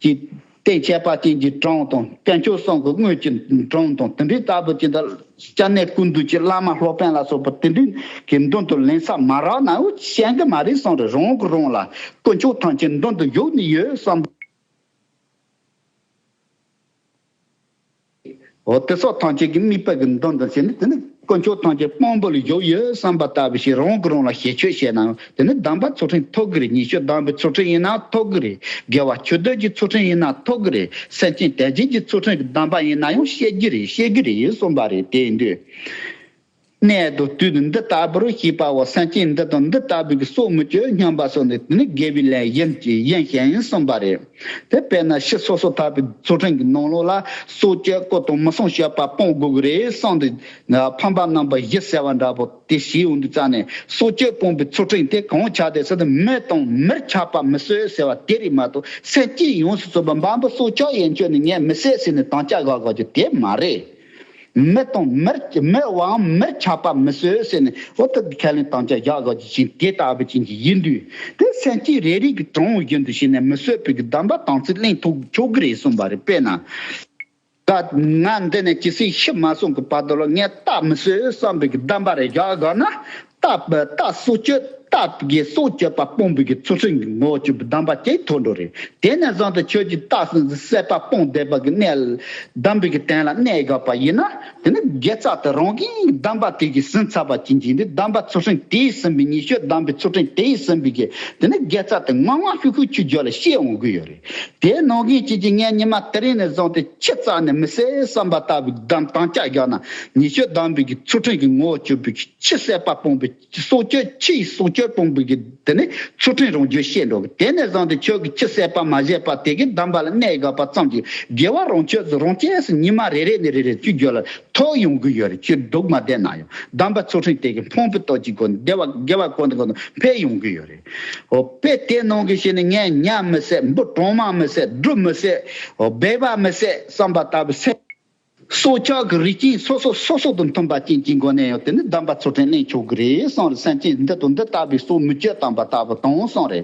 ཅེས། བརྟེན་ཁྱད་པར་ཅན་གྱི་གྲངས་དང་བསྟན་བཅོས་སྲང་གི་དངོས་ཀྱི་གྲངས་དང་དེ་འདྲའི་ལྟ་བུ་ཅི་འདྲ་སྐྱབས་གནས་ཀུན་འདུས་ཀྱི་བླ་མ་ལྷོ་པན་ལ་སོགས་པ་དེ་འདྲའི་གི་མདུན་དུ་ལན་ཚྭ་མ་རག་ན་ཤན་གྱི་མ་རིག་སྲང་རེ་རང་གི་རང་ལ་དཀོན་མཆོག་ཐམས་ཅད་མདུན་དུ་བཞུགས་ནས་ཡོད་བསམ། འོ་དེ་སོགས་ཐམས་ཅད་ཀྱི་དམིགས་པ་གི་མདོ་འདི་བྱས་ནས་དེ་ནི་དཀོན་མཆོག་ཐམས་ཅད་དཔང་པོ་ལ་བཞུགས་ཡོད་བསམ་པ་ལྟ་བུ་ཞིག་རང་གི་རང་ལ་ཞལ་ཆོས་བྱས་ནའང་དེ་ནི་གདམས་པ་ཚུལ་ཁྲིམས་ཐོག་གི་རེད་ཉི་ཤུ་གདམས་པའི་ཚུལ་ཁྲིམས་ཡིན་ནའང་ཐོག་གི་རེད་དགེ་བ་ཆོས་སྡོད་ཀྱི་ཚུལ་ཁྲིམས་ཡིན་ནའང་ཐོག་གི་རེད་སེམས་ཅན་དད་ཅན་གྱི་ཚུལ་ཁྲིམས་ཀྱི་གདམས་པ་ཡིན་ནའང་བཤད་ཀྱི་རེད་བཤད་ཀྱི་རེད་གསུངས་པ་རེད་དེ་ཡིན་དུས། གནས་དུ་དུས་འདི་ལྟ་བུར་ཤེས་པའོ་སེམས་ཅན་འདི་དང་འདི་ལྟ་བུའི་གྱི་སྲོག་མི་གཅོད་སྙམ་པ་སོགས་ནི་དེ་ནི་དགེ་བའི་ལས་གཞན་གྱི་གཞན་ཞེན་གསུམ་པ་རེད། དེ་བས་ན་ཕྱི་སོ་སོ་ཐར་པའི་ཚུལ་ཁྲིམས་ཀྱི་ནང་ལོགས་ལ་སྲོག་གཅོད་བཀུར་དང་མི་བསྲུང་བཤད་པ་སྤོང་དགོས་རེད་གསུངས་ཏེ། ཕམ་པ་རྣམ་པ་བཞི་ཟེར་བ་འདྲ་པོ་དེ་བཞིའི་འོག་ཏུ་བཙལ་ནས་སྲོག་གཅོད་སྤོང་པའི་ཚུལ་ཁྲིམས་དེ་གང་ཆགས་དེ་སྲིད་དུ་མི་དང་མིར་ཆགས་པ་མི་གསོད་ཟེར་བ་དེ་རིགས་མ་གཏོགས་སེམས་ཅན་ཡོངས་སུ་གསོད་པ་འབའ་འབུ་སྲོག་ཆགས་ཡན་ཆོད་ནས་ངས་མི་བསད་ཟེར་ནས་དམ་བཅའ་བཞག་དགོས་རྒྱུ་དེ་མ་རེད། མི་དང་མིར་མི་དབང་མིར་ཆགས་པ་མི་བཟོད་ཟེར་ནས་ཧོར་ཐུབ་ཀྱི་ཁས་ལེན་དམ་བཅའ་བཞག་བཞག་ཀྱི་བྱིན་དེ་ལྟ་བུ་ཅན་གྱི་ཡིག་འབྲུ་དེ་སེམས་སྐྱིད་རེ་རིག་གི་དྲང་བའི་རྒྱུན་དུ་བྱས་ནས་མི་བསོད་བུ་གི་གདམས་པ་དང་ཚིག་གླེང་ཐུག་ཆོག་གི་རེད་གསུངས་པ་རེད་དཔེར་ན། ད་ང་འདི་ནས་ཇི་སྲིད་ཤི་མ་སོང་གི་བར་དུ་ལ་ངས་རྟག་མི་བསོད་བསམ་བུ་གི་གདམས་པ་རེ་བཞག་བཞག་ན་རྟག་པའི་རྟགས་སུ་གཅོད་རྟགས་དགེ་སོགས་གཅོད་པ་སྤོང་བུ་གི་ཚུལ་ཁྲིམས་ཀྱི་ངོ་བཅུ་བུ་བསྡམས་པ་སྐྱེས་མཐོ་འགྲོ་རེ་དེ་ནས་བཟུང་སྟེ་ཆོས་ཀྱི་རྟགས་སུ་གསད་པ་སྤོང་བདེ་བ་གི་གནས་བསྡམ་བུ་གི་སྟན་ལ་གནས་དགག་པ་ཡིན་ན་དེ་ནི་དགེ་རྩ་དང་རང་གིས་བསྡམས་པ་དེ་གིས་ཟིན་ཚར་བ་གྱི་འཇིག་འདི་བསྡམས་པ་ཚུལ་ཁྲིམས་དེ་ཡིས་ཟིན་པའི་ཉི་ཤུ་བསྡམས་པའི་ཚུལ་ཁྲིམས་དེ་ཡིས་ཟིན་པའི་གི་དེ་ནི་དགེ་རྩ་དེ་ངང་ངང་ཤུགས་ཤུགས་ཆུ་རྒྱུ་ལ་ཤེས་འོང་གི་ཡོད་རེ་དེ་ནང་རྒྱུན་བྱེད་ཀྱི་ངས་ཉི་མ་དེ་རིང་ནས་བཟུང་སྟེ་ཕྱི་རྩ་ནས་མི་གསལ་བསམ་པ་ལྟ་བུ་གི་བསྡམས་སྟངས་ལྕགས་རྒྱག་ན་ཉི་ཤུ་བསྡམས་བུ་གི་ཚུལ་ཁྲིམས་ཀྱི་ངོ་བཅུ་བུ་གི། ཕྱི་གསལ་བ་སྤོང་པའི་སྲོག་གཅོད་ཕྱི་ཡི་སྲོག་གཅོད་སྤོང་པའི། འདི་ནི་ཚུལ་ཁྲིམས་རང་རྒྱུད་བཤད་འགྲོ་གི་དེ་ནས་བཟང་སྟེ་ཁྱོད་ཀྱི་ཕྱི་གསལ་བ་མ་བཞེས་པ་དེ་གའི་གདམས་པ་ལ་གནད་འགག་པ་ཙམ་གྱིས་དགེ་བ་རང་ཆོས་སུ་རང་སྐྱེས་སུ་ཉི་མ་རེ་རེ་ནས་རེ་རེར་བཅུད་འགྱུར་ལ་ཐོགས་ཡོང་གི་ཡོད་རེད་ཁྱོད་སྡུག་མ་བསྡད་ན་ཡང་གདམས་པ་ཚུལ་ཁྲིམས་དེ་གའི་འཕོངས་པའི་སྟོབས་ཀྱི་སྒོ་ནས་བདེ་བ་དགེ་བ་གོང་དང་གོང་དུ་འཕེལ་ཡོང་གི་ཡོད་རེད། ཨོ་དཔེ་དེ་གནང་གི་ཞིག་ནི་ངས་ཉམས་མི་སད་འབུ་གྲང་མ་མི་སད་སྒྲུབ་མི་སད་སྦས་པ་མི་སད་བསམ་པ་ལྟ་བུ་སད། སྲོག་ཆགས་ཀྱི་རིགས་སྐྱེས་སོ་སོ་སོ་སོ་དང་མཐུན་པ་ཅན་གྱི་མགོ་ནས་ཡང་དེ་ནི་བདམས་པ་ཚུལ་ཁྲིམས་གླེང་ཆོག་གི་རེད་བསམ་རེ་སེམས་ཅན་འདི་དང་འདི་ལྟ་བུའི་སྲོག་མི་གཅོད་དམ་པ་ལྟ་བུ་དང་བསམ་རེ།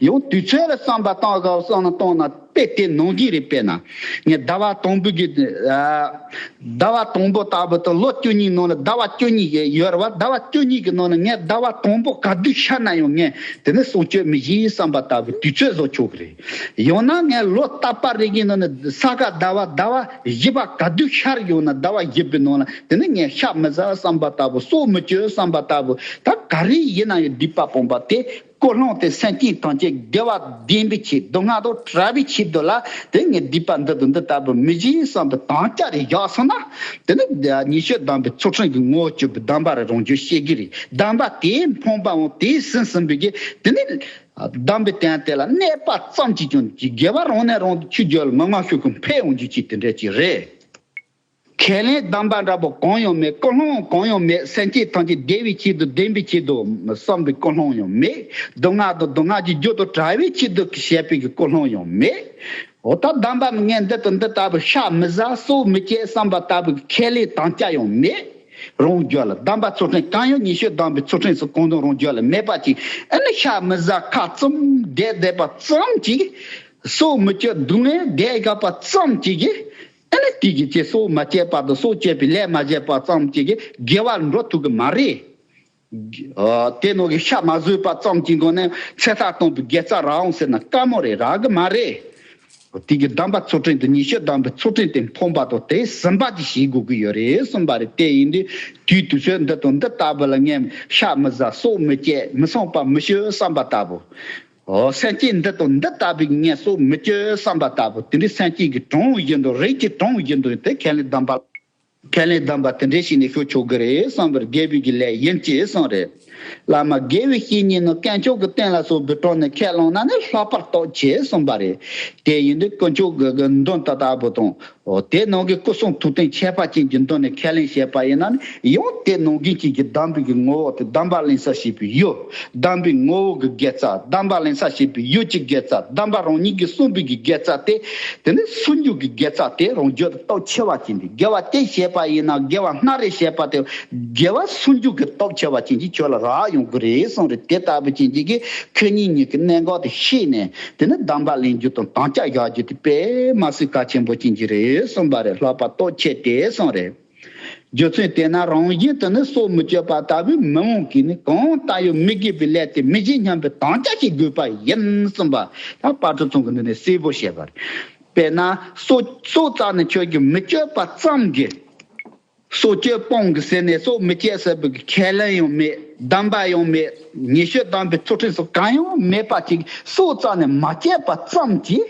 ཡང་དུས་ཚོད་ལ་བསམ་པ་བཏང་སྐབས་བསམ་ན་བཏང་ན་དཔེ་དེ་ནང་གི་རེད་དཔེར་ན། ངས་ཟླ་བ་དང་པོ་གི། ཟླ་བ་དང་པོ་ལྟ་བུ་དང་ལོ་བཅུ་གཉིས་ནང་ལ་ཟླ་བ་བཅུ་གཉིས་ཡོད་རེད་བ་ཟླ་བ་བཅུ་གཉིས་ཀྱི་ནང་ལ་ངས་ཟླ་བ་དང་པོ་ག་དུས་ཤར་ན་ཡང་ངས་དེ་ནི་སྲོག་གཅོད་མི་གཞིའི་བསམ་པ་ལྟ་བུའི་དུས་ཚོད་བཟོ་ཆོག་གི་རེད། ཡང་ན་ངས་ལོ་རྟག་པར་རིག་གི་ནང་ནས་ས་ག་ཟླ་བ་ཟླ་བ་བཞི་པ་ག་དུས་ཤར་ཡོང་ན་ཟླ་བ་བཞི་པའི་ནང་ལ་དེ་ནི་ངས་ཤ་མི་ཟ་བསམ་པ་ལྟ་བུ་སྲོག་མི་གཅོད་བསམ་པ་ལྟ་བུ་ད་ག་རེ་ཡིན་ན་ཡང་སྡིག་པ་སྤངས་པ་དེ་ཀོ་བསླངས་ཏེ་སེམས་ཅན་ཐམས་ཅད་དགེ་བ་བདེན་པའི་ཆེད་དུ་སྔ་དྲོ་གྲྭ་བའི་ཆེད་དུ་ལ་དེ་ངས་སྡིག་པ་འདི་དང་འདི་ལྟ་བུ་མི་བྱེད་བསམ་པའི་དམ་བཅའ་རེ་བཞག་སོང་ན་དེ་ནི་ཉི་ཤུ་གདམས་པའི་ཚུལ་ཁྲིམས་ཀྱི་ངོ་བོ་བཅུ་པའི་གདམས་པ་རེ་རང་བྱུང་ཤེས་གི་རེད་གདམས་པ་དེའི་འཕངས་པའང་དེའི་ཟིན་ཟིན་པའི་གིས་དེ་ནི། གདམས་པའི་སྟན་དེ་ལ་གནས་པ་ཙམ་གྱིས་ཀྱང་རྒྱལ་བ་རང་ནས་རང་ཆུ་རྒྱལ་མི་མངའ་ཤོས་ཀུན་འཕེལ་འོང་རྒྱུ་གཅིག་དེ་འདྲས་ཅིག་རེད། ཁས་ལེན་གདམས་པ་འདྲ་པོ་གང་ཡང་མེད་ཀུན་སློང་གང་ཡང་མེད་སེམས་བསྐྱེད་ཐམས་ཅད་བདེ་བའི་ཆེད་དུ་བདེན་པའི་ཆེད་དུ་བསམ་པའི་ཀུན་སློང་ཡང་མེད་སྡུག་བསྔལ་དང་སྡུག་བསྔལ་གྱི་རྒྱུ་དང་བྲལ་བའི་ཆེད་དུ་ཞེ་པེ་གི་ཀུན་སློང་ཡང་མེད། འོ་ད་གདམས་པ་ངས་འདི་དང་འདི་ལྟ་བུ་ཤ་མི་བཟའ་སོ་མི་སྐྱེ་བསམ་པ་ལྟ་བུ་གི་ཁས་ལེན་དང་སྐྱ་ཡང་མེད། རང་རྒྱལ་ལ་བདམས་པ་གཙོ་ཕྲན་གང་ཡོད་ཉི་ཤུ་བདམས་པའི་གཙོ་ཕྲན་སུ་གང་དུ་རང་རྒྱལ་ལ་མེད་པ་ཅིག་ཨེ་ནི་ཤ་མི་བཟའ་ཁ་བཙུམ་བགད་བསྡད་པ་ཙམ་གྱིས། སྲོག་མི་གཅོད་སྡུག་བསྔལ་བགད་བཞག་པ་ཙམ་གྱིས། ཨེ་ནི་དུས་ཀྱི་ཚེ་སྲོག་མ་བསྐྱེད་པར་དུ་སྲོག་བསྐྱེད་པའི་ལས་མ་བྱས་པ་ཙམ་གྱིས་དགེ་བར་འགྲོ་ཐུབ་གི་མ་རེད། ཏེ་ནོར་གྱི་ཤ་མ་བཟོས་པ་ཙམ་གྱི་སྒོ་ནས་ཚེ་སྲ་གཏོང་བའི་དགེ་རྩ་རའང་ཟེར་ན་དཀའ་མོ་རེད་རག་གི་མ་རེད། དེང་གི་གདམས་པ་ཚུལ་ཁྲིམས་དང་ཉི་ཤུ་གདམས་པའི་ཚུལ་ཁྲིམས་དེ་འཕོངས་པ་དང་དེ་ཟིན་པ་གཅིག་བྱེད་དགོས་ཀྱི་ཡོད་རེད་གསུངས་པ་རེད་དེ་ཡིན་དུས་དུས་དུས་ཚོད་འདི་དང་འདི་ལྟ་བུ་ལ་ངས་ཤ་མི་བཟའ་སྲོག་མི་གཅད་མི་བསྲང་པ་མི་ཞུ་བསམ་པ་ལྟ་བུ། སེམས་ཅན་འདི་དང་འདི་ལྟ་བུའི་ངས་སྲོག་མི་གཅོད་བསམ་པ་ལྟ་བུ་དེ་འདྲའི་སེམས་ཅན་གྱི་གྲངས་བཞིན་དུ་རིགས་ཀྱི་གྲངས་བཞིན་དུ་དེ་ཁས་ལེན་གདམས་པ་ཁས་ལེན་གདམས་པ་དེ་འདྲའི་ཞིག་ནས་ཤོད་ཆོག་གི་རེད་བསམ་པར་རྒྱལ་བོས་ཀྱི་ལས་ཡིན་ཅེས་གསུངས་རེད། བླ་མ་དགེ་བའི་བཤེས་གཉེན་ནི་སྐལ་མཆོག་གི་བསྟན་ལ་སོགས་པའི་དྲུང་ནས་ཁས་བླངས་ན་ནི་ལྷག་པར་རྟོགས་ཆེ་གསུངས་པ་རེད། དེ་ཡིན་དུས་དཀོན་མཆོག་གི་དགེ་འདུན་ད་ལྟ་བུ་དང། དེ་ནང་གི་སྐུ་གསུང་ཐུགས་རྟེན་ཁྱད་པར་ཅན་གྱི་མདུན་ནས་ཁས་ལེན་བྱས་པ་ཡིན་ན་ནི་ཡང་དེ་ནང་རྒྱུན་བཅས་ཀྱི་གདམས་པའི་གི་ངོ་བོ་དེ་གདམས་པ་གླེང་ས་ཞིག་ཡོད། གདམས་པའི་ངོ་བོ་གི་དགེ་རྩ་གདམས་པ་ལེན་ས་བྱེད་པའི་ཡུལ་གྱི་དགེ་རྩ་གདམས་པ་རང་ཉིད་ཀྱི་གསུངས་པའི་གི་དགེ་རྩ་སྟེ། དེ་ནི་ཟུང་འཇུག་གི་དགེ་རྩ་སྟེ་རང་རྒྱུད་ཀྱི་སྟོབས་ཆེ་བ་ཅན་དེ་དགེ་བ་སྟེ་བཤད་པ་ཡིན་ན་དགེ་བ་སྣ་རེ་བཤད་པ་དེ་དགེ་བ་ཟུང་འཇུག་གི་སྟོབས་ཆེ་བ་ཅན་གྱི་ཆོས་ལ་རག་ཡོང་དགོས་རེད་གསུངས་རེད་དེ་ལྟ་བུ་ཅན་གྱི་གི་ཁྱོད་ཉིད་ཉིད་ཀྱི་གནད་འགག་དེ་ཤེས་ནས་དེ་ནི་གདམས་པ་ལེན་རྒྱུ་དང་དམ་བཅའ་བཞག་རྒྱུ་དེ་པདྨ་སུའི་བཀའ་ཆེན་པོ་ཅན་གྱི་རེད་གསུངས་པ་རེད་ལྷག་པར་སྟོབས་ཆེ་སྟེ་གསུངས་རེད། རྒྱུ་མཚན་དེས་ན་རང་བཞིན་དུ་ནི་སྲོག་མི་གཅོད་པ་ལྟ་བུའི་མི་དབང་གིས་ནི་གང་ལྟ་ཡང་མི་དགེ་བའི་ལས་དེ་མི་བྱེད་སྙམ་པའི་དམ་བཅའ་བྱེད་དགོས་པ་ཡིན་གསུངས་པ་ལ་དཔའ་གྲོགས་ཚང་གིས་འདི་ནི་གསལ་པོར་བཤད་པར། དཔེར་ན་སྲོག་སྲོག་རྩ་ནི་ཁྱོད་ཀྱིས་མི་གཅོད་པ་ཙམ་གྱིས་སྲོག་གཅོད་སྤང་གི་ཟེར་ནས་སྲོག་མི་གཅད་ཟེར་བའི་ཁས་ལེན་ཡང་མེད་གདམས་པ་ཡང་མེད་ཉེས་ཆོས་གདམས་པའི་ཚུལ་ཁྲིམས་སོགས་གང་ཡང་མེད་པ་ཅིག་སྲོག་རྩ་ནི་མ་གཅད་པ་ཙམ་གྱིས།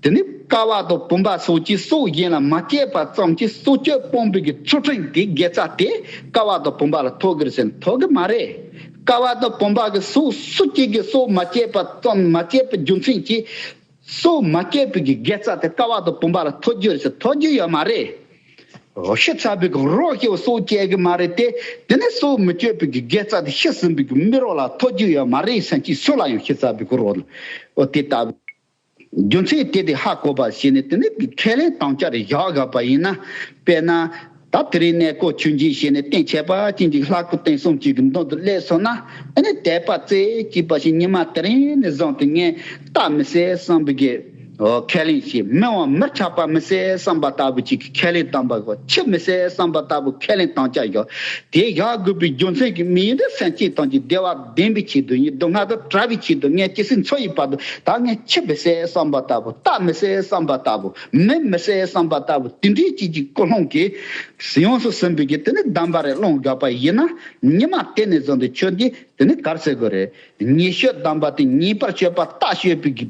དེ་ནི་ཀ་བ་དང་བུམ་པ་སོགས་ཀྱི་སྲོག་གཞན་ལ་མ་སྐྱེས་པ་ཙམ་གྱིས་སྲོག་གཅོད་སྤོང་པོ་གྱི་ཚུལ་ཁྲིམས་ཀྱི་དགེ་རྩ་དེ་ཀ་བ་དང་བུམ་པ་ལ་ཐོགས་གིར་ཟིན་ཐོགས་ཀྱི་མ་རེད། ཀ་བ་དང་བུམ་པ་གྱི་སྲོག་སུ་གཅིག་གིས་སྲོག་མ་བསྐྱེད་པ་ཙམ་མ་བསྐྱེད་པའི་རྒྱུ་མཚན་གྱིས། སྲོག་མ་བསྐྱེད་པོ་གྱི་དགེ་རྩ་དེ་ཀ་བ་དང་བུམ་པ་ལ་ཐོགས་རྒྱུར་ཟིན་ཐོགས་ཀྱི་ཡོད་མ་རེད། འོ་ཤི་ཚ་བོ་གྱི་རོགས་སྐྱེ་བོ་སྲོག་བསྐྱེད་ཀྱི་མ་རེད་དེ། དེ་ནི་སྲོག་མི་གཅོད་པོ་གྱི་དགེ་རྩ་དེ་ཤི་ཟིན་པོ་གྱི་མི་རོ་ལ་ཐོགས་ཀྱི་ཡོད་མ་རེད་བསམ་གྱིས་སུ་ལ་ཡང་ཤི་ཚ་བོ་གྱི་རོགས་ལ་འོ་དེ་ལྟ་བུ། རྒྱུ་མཚན་གཏད་དེ་ཧ་གོ་བ་བྱས་ནས་དེ་ནས་ཁས་ལེན་དང་བཅར་བཞག་དགོས་པ་ཡིན་ན། དཔེར་ན། ད་དེ་རིང་གནས་སྐོར་ཆུ་འབྱིན་བྱས་ནས་སྟེང་ཆད་པ་གཅིག་འཇིག་ལྷག་སྐུ་རྟེན་གསུམ་གཅིག་གི་མདུན་དུ་སླེབས་སོང་ན། དེ་ནས་དད་པ་རྩེ་གཅིག་པ་ཞིག་ཉི་མ་དེ་རིང་ནས་བཟུང་སྟེ་ངས་རྟ་མི་བསད་བསམ་པའི་གེ་ཧོ་ཁས་ལེན་བྱས་མི་དབང་མིར་ཆགས་པ་མི་བསད་བསམ་པ་ལྟ་བུ་གཅིག་གི་ཁས་ལེན་དང་པ་གོ་ཕྱི་མི་བསད་བསམ་པ་ལྟ་བུ་ཁས་ལེན་དང་བཅར་བཞག་དེ་བཞག་དགོས་པའི་རྒྱུ་མཚན་གྱི་མི་ཡི་འདོད་སེམས་སྐྱེས་སྟངས་ཀྱི་བདེ་བ། བདེན་པའི་ཆེད་དུ་ཡིད་སྡུག་བསྔལ་དང་བྲལ་བའི་ཆེད་དུ་ངས་ཇི་སྲིད་འཚོ་ཡི་བར་དུ་ད་ངས་འཆི་བའི་སའི་བསམ་པ་ལྟ་བུ་རྟགས་མི་སའི་བསམ་པ་ལྟ་བུ་མི་མི་སའི་བསམ་པ་ལྟ་བུ་དེ་འདྲའི་བྱེད་ཀྱི་ཀུན་སློང་གིས་ཡོངས་སུ་ཟིན་པོས་ཀྱི་དེ་ནི་གདམས་པ་རེད་བློ་འགགས་པ་ཡིན་ན་ཉི་མ་དེ་ནས་བཟུང་སྟེ་ཁྱོད་ཀྱིས་དེ་ནི་གར་སེལ་དགོས་རེད་ཉེས་ཤོས་གདམས་པ་དེ་ཉེས་པར་ཆོད་པ་རྟགས་ཤོད་པོས་ཀྱི་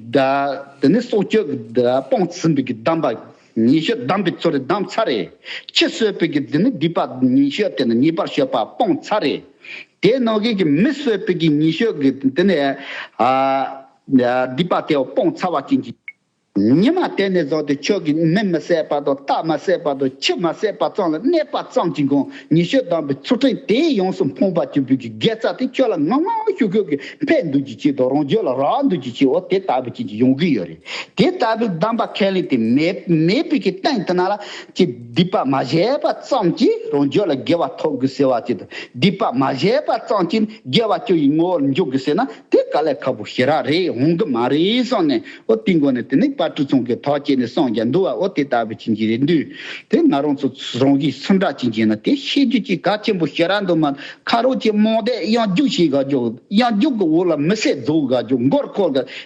དེ་ནི་སྲོག་གཅོད་ཀྱི་སྤོང་ཟིན་པོས་ཀྱི་གདམས་པ། ཉི་ཤུ་བསྡམས་པའི་ཚུལ་རེ་བསྡམས་ཚར་རེ། ཁྱི་གསོད་པོད་ཀྱི་རྫི་མི་སྡིག་པ་ཉི་ཤུ་དེ་ནས་ཉེས་པར་ཞོག་པ་སྤོངས་ཚར་རེ། དེས་ནོར་གེགས་ཀྱི་མི་གསོད་པོད་ཀྱི་ཉི་ཤུ་གི་དེ་ནས་སྡིག་པ་དེའོ་སྤོངས་ཚར་བ་ཅན་གྱི། ཉི་མ་དེ་ནས་བཟུང་སྟེ་ཁྱོད་ཀྱིས་མི་མི་བསད་པ་དང་རྟ་མ་བསད་པ་དང་ཁྱི་མ་བསད་པ་ཙམ་ལ་གནས་པ་ཙམ་གྱིས་འགོང་ཉི་ཤུ་བསྡམས་པའི་ཚུལ་ཕྲན་དེས་ཡོངས་སུ་འཕོངས་པ་གྱུར་པོད་ཀྱི་དགེ་རྩ་དེ་ཁྱོད་ལ་ངང་ངང་ཤུགས་ཤུགས་ཀྱིས་འཕེལ་འདུག་ཅིག་ཅིག་དང་རང་རྒྱུད་ལ་རག་འདུག་ཅིག་ཅིག་འོ་དེ་ལྟ་བུ་ཅན་གྱི་ཡོང་གི་ཡོད་རེད། དེ་ལྟ་བུའི་གདམས་པ་ཁས་ལེན་དེ་མེད་པའི་གི་སྟེང་དུ་ན་ལ་ཀྱི་སྡིག་པ་མ་བྱས་པ་ཙམ་གྱིས་རང་རྒྱུད་ལ་དགེ་བ་ཐོབ་དགོས་ཟེར་བ་བཅས་དང་སྡིག་པ་མ་བྱས་པ་ཙམ་གྱིས་དགེ་བ་སྐྱོན་ཡི་ངོ་བོར་འཇོག་དགོས་ཟེར་ན་དེ་ག་ལས་ཁག་པོ་ཞེ་རགས་རེད་འོང་གི་མ་རེད་གསུངས་ནས་ཨོ་དེའི་མགོ་ནས་དེ་ནས་པར་གྲུ་ཚང་གི་ཐག་བཅད་ནས་སངས་རྒྱ་འདུལ་བ་ཨོ་དེ་ལྟ་བུ་བྱིན་གྱིས་རེ་འདུལ་དེ་ང་རང་ཚོ་རང་གིས་སུ་འདྲ་བྱིན་གྱིས་ན་དེ་ཤེས་རྒྱུ་གྱི་ག་ཆེན་པོ་ཞེ་རགས་འདུག་མ་ཁ་རོག་ཅིག་རྨོངས་དད་གཡང་རྒྱུགས་བྱེད་ག་རྒྱུགས་གཡང་རྒྱུགས་ཀྱི་འོག་ལ་མི་བསད་རྫོགས་ག་རྒྱུགས་མགོར་འཁོར་ག་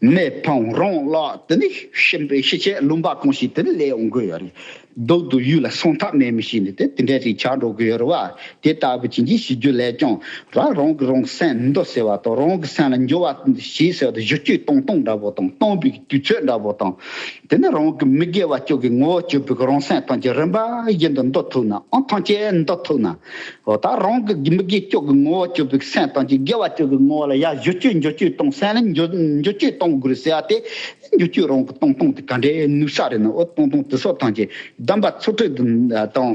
མེ་ཕང་རོང་གླགས་དེ་ནི་གཤིན་པོའི་ཤི་ཆད་ལུང་པ་གང་ཞིག་དེ་ནི་ལས་ཡོང་དགོས་ཡོད་རེད། རྡོག་ཏུ་གཡུག་ལ་སོང་ཐབས་མེད་མི་ཞིག་ནི་དེ་དེ་འདྲས་ཤིག་ཆགས་འགྲོ་དགོས་ཡོད་རེད་བ། དེ་ལྟ་བུ་བྱིན་གྱིས་ཞི་རྒྱུ་ལས་ཀྱང་རང་རང་གི་རང་སེམས་མི་འདོར་ཟེར་བ་དང་རང་གི་སེམས་ལ་འགྱུར་བ་ཞིག་ཟེར་བ་དང་གཞི་སྐྱོད་བཏང་བཏང་འདྲ་བོ་དང་བཏང་པའི་དུས་ཚོད་འདྲ་བོ་དང། དེ་ནི་རང་གི་མི་དགེ་བ་སྐྱོ་གི་ངོ་བོ་སྐྱོ་བུག་རང་སེམས་དང་གྱི་རིམ་པ་བཞིན་དུ་འདོད་ཐུག་ནའང་ཐང་ཆད་འདོད་ཐུག་ན། འོ་ད་རང་གི་མི་དགེ་སྐྱོ་གི་ངོ་བོ་སྐྱོ་བུག་སེམས་དང་གྱི་དགེ་བ་སྐྱོ་གི་ངོ་བོ་ལ་ཡ་བཞུ་སྐྱོ་འགྱོ་སྐྱོའི་སྟོང་སེམས་ལ་འགྱོ་འགྱོ་སྐྱོའི་སྟོང་དགོས་རེད་ཟེར་བ་དེ་འགྱོ་སྐྱོའི་རང་གི་སྟོང་སྟོང་དེ་ག་འདྲའི་ནུས་ས་རེད་ནའོ་སྟོང་སྟོང་དེ་སོགས་ཐང་ཆད་གདམས་པ་ཚུར་ཁྲིད་དང།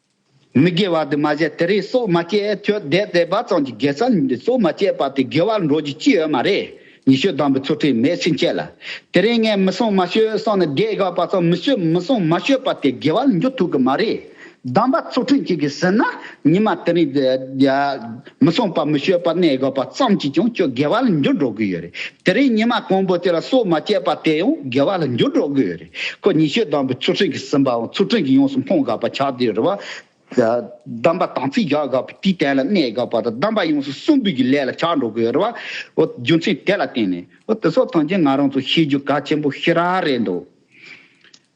མི་དགེ་བ་དུ་མ་བྱས་དེ་རིགས་སུ་མ་སྐྱེས་ཁྱོད་དད་བདེ་བ་ཙམ་གྱི་དགེ་རྩ་ཉིད་སུ་མ་སྐྱེས་པ་དེ་དགེ་བར་འགྲོ་རྒྱུ་ཅི་ཡོད་མ་རེད་ཉི་ཤུ་དང་པོའི་ཚུལ་ཁྲིམས་མེད་ཕྱིན་ཆད་ལ། དེ་རིང་ངས་མི་སྲུང་མ་ཤོད་སོང་ནས་དགེ་བསྒོས་པ་ཙམ་མི་ཤོད་མི་སྲུང་མ་ཤོད་པ་དེ་དགེ་བར་འགྱུར་ཐུབ་གི་མ་རེད། གདམས་པ་ཚུལ་ཁྲིམས་གཅིག་གིས་ཟིན་ན་ཉི་མ་དེ་རིང། མི་ཚངས་པ་མི་ཤོས་པ་གནས་དགོས་པ་ཙམ་གྱིས་ཀྱང་ཁྱོད་དགེ་བ་ལ་འགྱུར་འགྲོ་གི་ཡོད་རེད། དེ་རིང་ཉི་མ་གང་པོ་དེ་ལ་སྲོག་མ་བཅད་པ་དེ་ཡང་དགེ་བ་ལ་འགྱུར་འགྲོ་གི་ཡོད་རེད། ཁོ་ཉི་ཤུ་དང་པོའི་ཚུལ་ཁྲིམས་ཀྱིས་ཟིན་པའང་ཚུལ་ཁྲིམས་ཀྱིས་ཡོངས་སུ་སྨོན་དགོས་པ་ཆགས་དུས་རེ་བ། གདམས་པ་དམ་ཚིག་བཞག་དགོས་པ་དེའི་གྲལ་ལ་གནས་དགོས་པ་དང་གདམས་པ་ཡོངས་སུ་སྲུང་འབུལ་གྱི་ལས་ལ་ཆགས་འགྲོ་གི་ཡོད་རེ་བ། རྒྱུ་མཚན་དེ་ལ་བརྟེན་ནས་དེ་ཚོ་ཐམས་ཅད་ང་རང་ཚོས་ཤེས་རྒྱུ་གལ་ཆེན་པོ་ཞིག་ར་རེད་འདུག།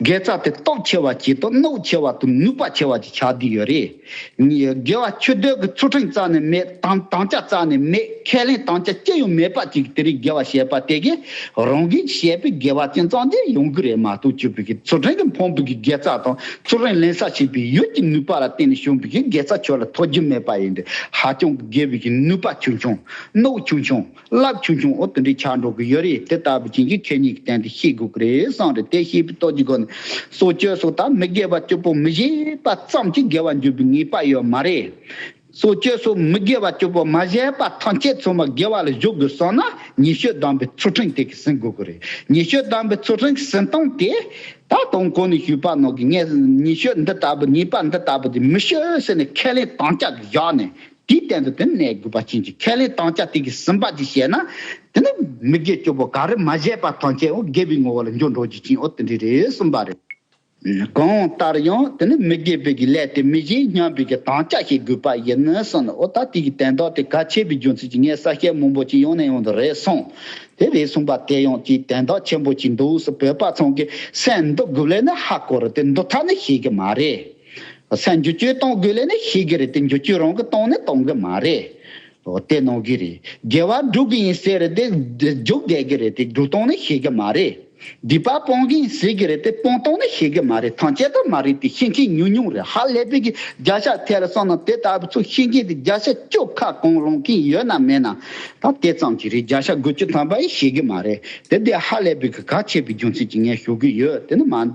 དགེ་རྩ་དེ་སྟོབས་ཆེ་བ་བྱེད་དོ་གནོད་ཆེ་བ་དང་ནུས་པ་ཆེ་བ་བྱེད་ཆགས་བསྡད་ཡོད་རེད། དགེ་བ་ཆོས་འདོད་ཀྱི་ཚུལ་ཁྲིམས་རྩ་ནས་མེད་དམ་དམ་བཅའ་རྩ་ནས་མེད་ཁས་ལེན་དམ་བཅའ་ཅི་ཡང་མེད་པ་ཅིག་དེ་རིང་དགེ་བ་བྱས་པ་དེ་གས་རང་གིས་བྱས་པའི་དགེ་བ་ཅན་གཙང་སྦྲས་ཡོང་གི་རེད་མ་གཏོགས་བཅུ་བོད་ཀྱི་ཚུལ་ཁྲིམས་ཀྱི་འཕོངས་པའི་དགེ་རྩ་དང་ཚུལ་ཁྲིམས་ལེན་ས་བྱེད་པའི་ཡུལ་གྱི་ནུས་པ་ལ་བརྟེན་ནས་བྱུང་བའི་དགེ་རྩ་ཁྱོད་ལ་ཐོགས་རྒྱུ་མེད་པ་ཡིན་དུས་ཧ་ཅང་གི་དགེ་བའི་གི་ནུས་པ་ཆུང་ཆུང་གནོད་ཆུང་ཆུང། རླབས་ཆུང་ཆུང་འོག་ཏུ་འདྲིས་ཆགས་འགྲོ་གི་ཡོད་རེད་དེ་ལྟ་བུ་ཅན་གྱི་ཁེ་གཉིས་ཀྱི་སྟེང་དུ་ཤེས་དགོས་ཀྱི་རེད་བསམ་རེད་དེ་ཤེས་པའི་སྟོབས་ཀྱི་སྒོ་ནས་སྲོག་གཅོད་སོགས་དང་མི་དགེ་བ་སྤྱོད་པོ་མི་བཞེས་པ་ཙམ་གྱིས་དགེ་བ་འགྱུར་བའི་ངེས་པ་ཡོད་མ་རེད། སྲོག་གཅོད་སོགས་མི་དགེ་བ་སྤྱོད་པོ་མ་བཞེས་པ་ཐམས་ཅད་ཚང་མ་དགེ་བ་ལ་གཞུག་དགོས་བསམ་ན་ཉི་ཤུ་བདམས་པའི་ཚུལ་ཁྲིམས་དེ་གིས་ཟིན་དགོས་ཀྱི་རེད་ཉི་ཤུ་བདམས་པའི་ཚུལ་ཁྲིམས་ཀྱིས་ཟིན་སྟངས་དེ། ད་དུང་གོང་ནས་ཞུས་པ་ནང་གི་ངས་ཉི་ཤུ་འདི་ལྟ་བུ་ངེས་པ་འདི་ལྟ་བུ་དེ་མི་ཤོད་ཟེར་ནས་ཁས་ལེན་དམ་བཅའ་བཞག་ནས་དེའི་སྟེང་དུ་དེ་ནས་དགོས་པ་ཅན་གྱི་ཁས་ལེན་སྟངས་ཅི་སྟེ་གི་ཟིན་པ་ཅི་བྱས་ན། དེ་ནི་མི་དགེ་བཅུ་པོ་ག་རེ་མ་བྱས་པ་ཐམས་ཅད་འོ་བརྒྱལ་བའི་ངོ་བོ་ལ་འགྱུར་འགྲོ་རྒྱུ་ཅན་འོ་དེ་འདྲས་རེད་གསུངས་པ་རེད། གང་ལྟར་ཡང་དེ་ནི་མི་དགེ་བོད་ཀྱི་ལས་དེ་མི་བྱེད་སྙམ་པའི་གི་དང་ཅག་བྱེད་དགོས་པ་ཡིན་ནི་གསུངས་ནས་འོ་ད་དེ་གི་དན་རྟགས་དེ་ག་ཆད་པའི་རྒྱུ་མཚན་གྱི་ངའི་ས་སྐྱའི་མང་པོ་ཅིག་ཡང་ནས་ཡང་དུ་རེད་གསུངས། དེ་རེད་གསུངས་པ་དེ་ཡང་ཅིག་དན་རྟགས་ཆེན་པོ་ཅིག་འདུག་སེ་བོད་པ་ཚང་གི་སེམས་འདི་དགུ་ལས་ནི་ཧ་གོ་རུ་དེ་འདུག་ཐ་ནི་ཤེས་གི་མ་རེད། སེམས་འགྱུ་བཅོས་གཏོང་དགོས་ལེ་ནི་ཤེས་གི་རེད་དེ་འགྱུ་བཅོས་རང་གི་གཏོང་ནི་གཏོང་གི་མ་རེད། བལྟས་གནང་གི་རེད། རྒྱལ་བ་འགྲུག་གི་ཡིན་ཟེར་རེད་དེ། འཇུག་དགོས་གི་རེད་དེ་འགྲུག་གཏོང་ནི་ཤེས་གི་མ་རེད། སྡིག་པ་སྤོང་གི་ཡིན་ཟེར་གི་རེད་དེ་སྤོང་གཏོང་ནི་ཤེས་གི་མ་རེད་ཐང་ཆད་ད་མ་རེད་དེ་ཤེས་མཁན་ཉུང་ཉུང་རེད་ཧ་ལས་པའི་གི་རྒྱ་ཤ་ཐལ་སོང་ན་དེ་ལྟ་བུ་ཚོ་ཤེས་མཁན་དེ་རྒྱ་ཤ་ཅོག་ཁ་གང་རུང་གིན་ཡོད་ན་མེད་ན་ད་ལྟས་ཙམ་གྱི་རེད་རྒྱ་ཤ་དགོས་ཀྱི་དམ་པ་ཡིན་ཤེས་གི་མ་རེད་དེ་དེ་ཧ་ལས་པའི་གི་ག་ཆད་པའི་རྒྱུ་མཚན་གྱི་ངས་ཞུ་གི་ཡོད་དེ་ནི་མ།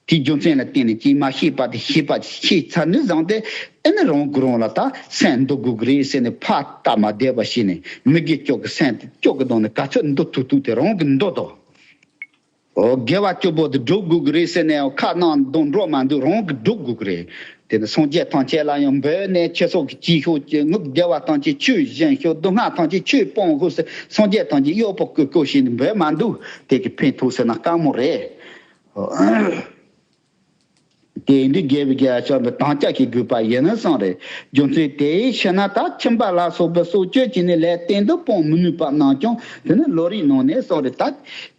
དེའི་རྒྱུ་མཚན་ལ་བརྟེན་ནས་ཀྱིས་མ་ཤེས་པ་དེ་ཤེས་པ་ཆེས་ཚ་ནུས་བཟང་སྟེ་དེ་ནི་རང་གིས་རང་ལ་ད་སེམས་འདུག་དགོས་ཀྱི་རེད་ཟེར་ནས་ཕར་ལྟ་མ་བསྡད་པར་ཤེས་ནས་མི་དགེ་སྐྱོ་གི་སེམས་དེ་སྐྱོ་གི་གདོང་ནས་ག་ཚོད་མདོ་ཐུག་ཐུག་དེ་རང་གིས་མདོ་དོ། ཨོ་དགེ་བ་སྐྱོ་པོ་དེ་སྒྲུབ་དགོས་ཀྱི་རེད་ཟེར་ནས་ཁ་ནང་གདོང་འགྲོ་མ་འདུག་རང་གིས་སྒྲུབ་དགོས་ཀྱི་རེད། དེ་ནི་སངས་རྒྱས་ཐམས་ཅད་ལ་ཡང་འབོད་ནས་ཁྱེད་སོགས་ཀྱིས་ཅི་ཤོག་ཅི་ངུབ་བདེ་བ་ཐམས་ཅད་ཆུས་བཞེངས་ཤོག་སྡུག་བསྔལ་ཐམས་ཅད་ཆུས་སྤང་ཤོག་ཟེར་སངས་རྒྱས་ཐམས་ཅད་གཡོག་པོ་བསྐོས་བསྐོས་བྱས་ནས་འབོད་མ་འདུག་དེ་གི་ཕན་ཐོགས་ཟེར་ན་དཀའ་མོ་རེད། དེ་ཡིན་དུས་རྒྱལ་བའི་རྒྱལ་ཕྱོགས་འདི་དྭངས་ལྕགས་ཀྱིས་བསྒུལ་པ་ཡིན་ནི་གསུངས། རྒྱུ་མཚན་དེའི་ཕྱིར་ན་ད་ཁྱིམ་པ་ལ་སོགས་པའི་སྲོག་གཅོད་ཀྱི་ནི་ལས་གཏན་དུ་སྤོང་མི་ནུས་པ་སྣང་ཀྱང་དེ་ནི་ལོ་རིའི་ནང་ནས་གསུངས། ད་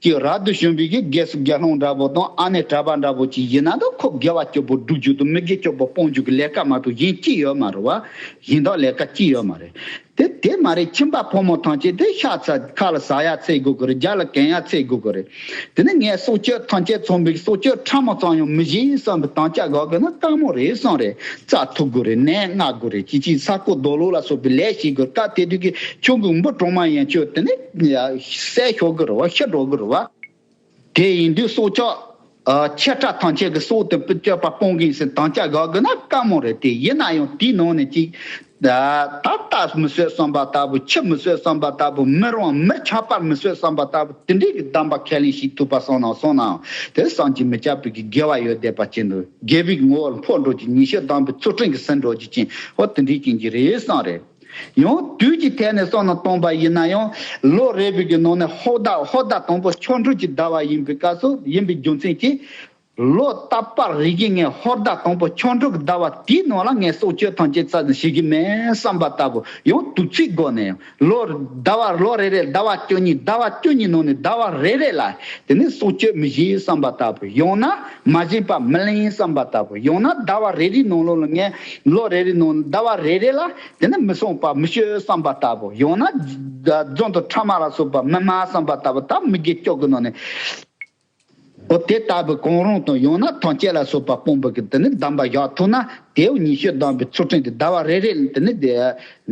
ཀྱི་ར་བསྡུ་ཞུམ་བུས་ཀྱི་སྒལ་སུ་དགེ་སློང་འདྲ་བོ་དང་ཨ་ནེ་གྲྭ་པ་འདྲ་བོ་ཅིག་ཡིན་ན་ད་ཁོ་དགེ་བ་སྐྱོབ་པོ་སྒྲུབ་རྒྱུ་དང་མི་དགེ་སྐྱོབ་པོ་སྤོང་རྒྱུ་གི་ལས་ཀ་མ་གཏོགས་གཞན་ཅི་ཡོད་མ་རེད་བ། གཞན་དག་ལས་ཀ་ཅི་ཡོད་མ་རེད། དེ་དེ་མ་རེད་ཁྱིམ་པ་ཕོ་མོ་ཐང་ཆད་དེ་ཤ་ཚ་ཁ་ལ་ཟ་ཡ་ཚད་དགོས་ཀྱི་རེད་རྒྱ་ལ་གན་ཡ་ཚད་དགོས་ཀྱི་རེད་དེ་ནས་ངས་སྲོག་སྐྱོད་ཐང་ཆད་ཚོང་འབིག་སྲོག་སྐྱོད་ཁྲ་མོ་ཚང་ཡང་མི་བཞེས་ཡིན་བསམ་གི་ཐང་ཆད་གག་གི་ན་དཀའ་མོ་རེད་བསམ་རེད་རྩ་ཐུག་གི་རེད་ནད་མངག་དགོས་རེད་ཅི་ཅིས་ས་རྐོ་རྡོ་ལུག་ལ་སོགས་པའི་ལས་བྱེད་དགོས་སྐབས་དེ་དུས་ཀྱི་ཆུ་འགུག་འབུ་གྲོག་མ་ཡན་ཆོད་དེ་ནས་ཟས་ཤོར་གྱི་རེད་བ་ཤི་འགྲོ་གྱི་རེད་བ། དེ་ཡིན་དུས་སྲོག་ཆགས་ཆེ་ཕྲ་ཐམས་ཅད་ཀྱི་སྲོག་དེ་སྤྱོད་པ་སྤོང་གིན་ཟེར་དམ་བཅའ་བཞག་དགོས་ན་དཀའ་མོ་རེད་དེ་ཡིན་ན་ཡང་དེའི་ནང་ནས་གཅིག། ད་ལྟ་མི་བཟོད་བསམ་པ་ལྟ་བུ་ཁྱི་མི་བཟོད་བསམ་པ་ལྟ་བུ་མིར་དབང་མིར་ཆགས་པར་མི་བཟོད་བསམ་པ་ལྟ་བུ་དེ་འདྲའི་གི་གདམས་པ་ཁས་ལེན་བྱེད་ཐུབ་པ་སོང་ན་སོང་ནའང་དེ་བསམ་གྱིས་མི་ཁྱབ་པའི་གི་དགེ་བ་ཡོད་བསྡད་པ་ཅན་དུ་རྒྱལ་བོའི་གི་ངོ་བོར་འཕོ་འགྲོ་རྒྱུ་ཉི་ཤུ་གདམས་པའི་ཚུལ་ཁྲིམས་ཀྱི་ཟིན་འགྲོ་རྒྱུ་ཅན་ཧོ་དེ་འདྲའི་རྐྱེན་གྱིས་རེད་བསམ་རེད། ཡང་དུས་ཀྱི་ཐད་ནས་སོང་ན་སྟོང་པ་ཡིན་ན་ཡང་ལོ་རེ་བོད་ཀྱི་ནང་ནས་ཧོར་ཟླ་ཧོར་ཟླ་དང་པོ་ཆོ་འཕྲུལ་གྱི་ཟླ་བ་ཡིན་པའི་སྐབས་སུ་ཡིན་པའི་རྒྱུ་མཚན་གྱིས། ལོ་རྟག་པར་རིག་གི་ངས་ཧོར་ཟླ་དང་པོ་ཆོ་འཕྲུལ་གྱི་ཟླ་བ་དེའི་ནང་ལ་ངས་སྲོག་གཅོད་ཐམས་ཅད་བསགས་ནས་ཞི་གི་མེད་བསམ་པ་ལྟ་བུ་ཡང་དུས་ཚིགས་སྒོ་ནས་ཡང་ལོ་ཟླ་བ་ལོ་རེ་རེ་ཟླ་བ་བཅུ་གཉིས་ཟླ་བ་བཅུ་གཉིས་ནང་ནས་ཟླ་བ་རེ་རེ་ལ་དེ་ནས་སྲོག་གཅོད་མི་བཞེས་བསམ་པ་ལྟ་བུ་ཡང་ན་མ་བཞེས་པ་མི་ལེན་བསམ་པ་ལྟ་བུ་ཡང་ན་ཟླ་བ་རེ་རེའི་ནང་ལོ་ལ་ངས། ལོ་རེ་རེ་ནང་ཟླ་བ་རེ་རེ་ལ་དེ་ནི་མི་བསྲུང་བར་མི་སྐྱོ་བསམ་པ་ལྟ་བུ་ཡང་ན་རྫོང་དུ་ཁྲ་མ་ལ་སོགས་པ་མི་སྨྲ་བསམ་པ་ལྟ་བུ་དག་མི་དགེ་སྐྱོ་གི་ནང་ནས་འོ་དེ་ལྟ་བུའི་གང་རུང་དང་ཡང་ན་ཐང་སྐྱེས་ལ་སོགས་པ་སྤོང་བུ་གི་དེ་ནི་གདམས་པ་བཞག་ཐུབ་ན་དེའུ་ཉི་ཤུ་གདམས་པའི་ཚུལ་ཁྲིམས་དེ་ཟླ་བ་རེ་རེ་ལ་དེ་ནི་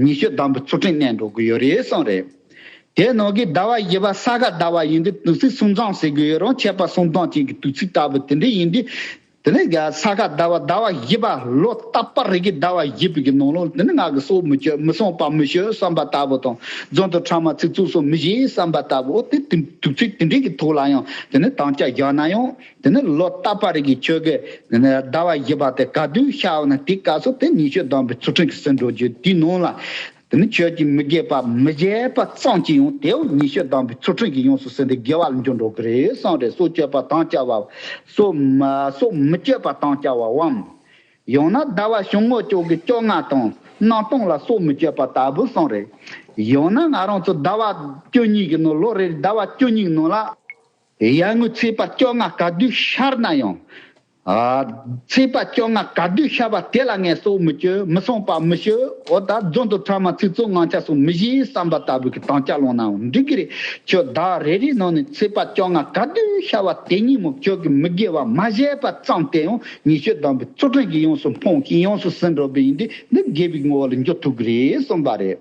ཉི་ཤུ་གདམས་པའི་ཚུལ་ཁྲིམས་གནས་འགྲོ་དགོས་ཡོད་རེད་གསུངས་རེད། དེའི་ནང་གི་ཟླ་བ་བཞི་པ་ས་ག་ཟླ་བ་ཡིན་དུས་དུས་ཚིགས་སུམ་སྦྱངས་ཟེར་དགོས་ཡོད་རུང་ཆད་པ་སུམ་སྦྱངས་བྱེད་ཀྱི་དུས་ཚིགས་ལྟ་བུ་དེ་འདྲ་ཡིན་དུས། དེ་ནས་རྒྱ་ས་ག་ཟླ་བ་ཟླ་བ་བཞི་པ་ལོ་རྟ་པར་རིགས་ཀྱི་ཟླ་བ་བཞི་པའི་གི་ནང་ལོ་དེ་ནི་ངག་གི་སྲོག་མི་གཅོད་མི་སྲུང་བར་མི་བྱོལ་བསམ་པ་ལྟ་བུ་དང་རྫུན་དུ་ཕྲ་མ་ཚིག་རྩུབ་སོགས་མི་བཞེས་བསམ་པ་ལྟ་བུའོ་དེ་དུས་དུས་ཚིགས་དེ་འདྲའི་གི་ཐུགས་ལ་ཡང་དེ་ནི་དམ་བཅའ་བཞག་ན་ཡང་དེ་ནི་ལོ་རྟ་པར་རིགས་ཀྱི་ཆོས་གི་དེ་ནི་ཟླ་བ་བཞི་པ་སྟེ་ག་དུས་ཤར་བ་ན་དེའི་སྐབས་སུ་དེ་ཉི་ཤུ་བསྡམས་པའི་ཚུལ་ཁྲིམས་ཀྱི་སྲིད་འགྲོ་རྒྱུད་དེའི་ནང་ལ། དེ་ནི་ཁྱོད་ཀྱིས་མི་དགེ་བ་མི་བྱེད་པ་ཙམ་གྱིས་ཡང་དེའུ་ཉི་ཤུ་བསྡམས་པའི་ཚུལ་ཁྲིམས་ཀྱིས་ཡོངས་སུ་ཟིན་ཏེ་དགེ་བ་ལ་འགྱུར་འགྲོ་གི་རེད་བསམས་རེ་སོགས་སྤྱོད་པ་དང་བཅའ་བའམ། སོགས་མི་སྤྱོད་པ་དང་བཅའ་བའམ། ཡང་ན་ཟླ་བ་བྱུང་ངོ་ཅོག་གི་བཅོ་ལྔ་དང་སྣང་སྟོང་ལ་སོགས་མི་སྤྱོད་པ་ལྟ་བུ་བསམས་རེ། ཡང་ན་ང་རང་ཚོ་ཟླ་བ་བཅུ་གཉིས་ཀྱི་ནང་ལོ་རེར་ཟླ་བ་བཅུ་གཉིས་ནང་ལ། ཡར་ངོའི་ཚེས་པ་བཅོ་ལྔ་ག་དུས་ཤར་ན་ཡང། ཚེས་པ་བཅོ་ལྔ་ག་དུས་ཤར་བ་དེ་ལ་ངལ་གསོ་མི་སྤྱོད་མི་གསོང་པ་མི་བྱེད་འོ་ད་རྫོང་དུ་འཕྲལ་མ་ཚིག་རྩོད་ངང་ཆ་སོང་མི་གཞིའི་བསམ་པ་ལྟ་བུ་གི་དང་ཆ་ལོངས་ནའང་འགྲིག་གི་རེད་ཁྱོད་བདག་རེ་རེའི་ནང་ནས་ཚེས་པ་བཅོ་ལྔ་ག་དུས་ཤར་བ་དེ་ཉིན་མོ་ཁྱོད་ཀྱི་མི་དགེ་བ་མ་བྱས་པ་ཙམ་དེ་ཡང་ཉི་ཤུ་བདམས་པའི་ཚུལ་ཁྲིམས་ཀྱིས་ཡོངས་སུ་སྤོང་ཞིང་ཡོངས་སུ་ཟིན་འགྲོ་པས་ཡིན་དུས་འདི་དགེ་བའི་ངོ་བོ་ལ་འགྱུར་ཐུབ་གི་རེད་གསུངས་པ་རེད།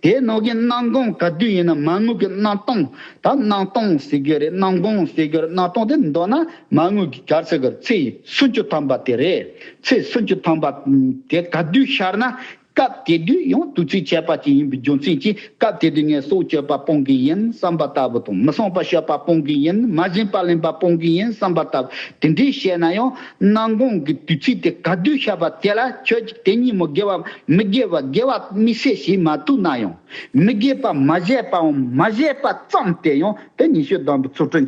དེའི་ནང་གི་སྣང་སྟོང་ག་དུས་ཡིན་ན་མ་དངུལ་གྱི་སྣང་སྟོང་ད་སྣང་སྟོང་ཟེར་རྒྱུ་རེད་སྣང་སྟོང་ཟེར་རྒྱུ་རེད་སྣང་སྟོང་དེ་མདོར་ན་མ་དངུལ་གྱི་གར་ཟེར་དགོས་ཚེས་སུམ་ཅུ་ཐམ་པ་དེ་རེད་ཚེས་སུམ་ཅུ་ཐམ་པ་དེ་ག་དུས་ཤར་ན་སྐབས་དེ་དུས་ཡང་དུས་ཚོད་ཁྱད་པར་ཅན་ཡིན་པའི་རྒྱུ་མཚན་གྱིས་སྐབས་དེ་དུས་ངས་སྲོག་གཅོད་པ་སྤོང་གི་ཡིན་བསམ་པ་ལྟ་བུ་དང་མི་བསྲུང་པ་ཤོད་པ་སྤོང་གི་ཡིན་མ་བཞིན་པ་ལེན་པ་སྤོང་གི་ཡིན་བསམ་པ་ལྟ་བུ་དེ་འདྲས་བཤད་ན་ཡང། སྣང་གོང་གི་དུས་ཚིགས་དེ་ག་དུས་ཤར་བ་དེ་ལ་ཁྱོད་ཀྱིས་དེ་ཉིན་མོ་དགེ་བ་མི་དགེ་བ་དགེ་བ་མི་བྱེད་ཞེས་མ་ཐུག་ན་ཡང། མི་དགེ་བ་མ་བྱས་པའམ་མ་བྱས་པ་ཙམ་དེ་ཡང་དེ་ཉི་ཤུ་དང་པོའི་ཚུར་སྤྲོད།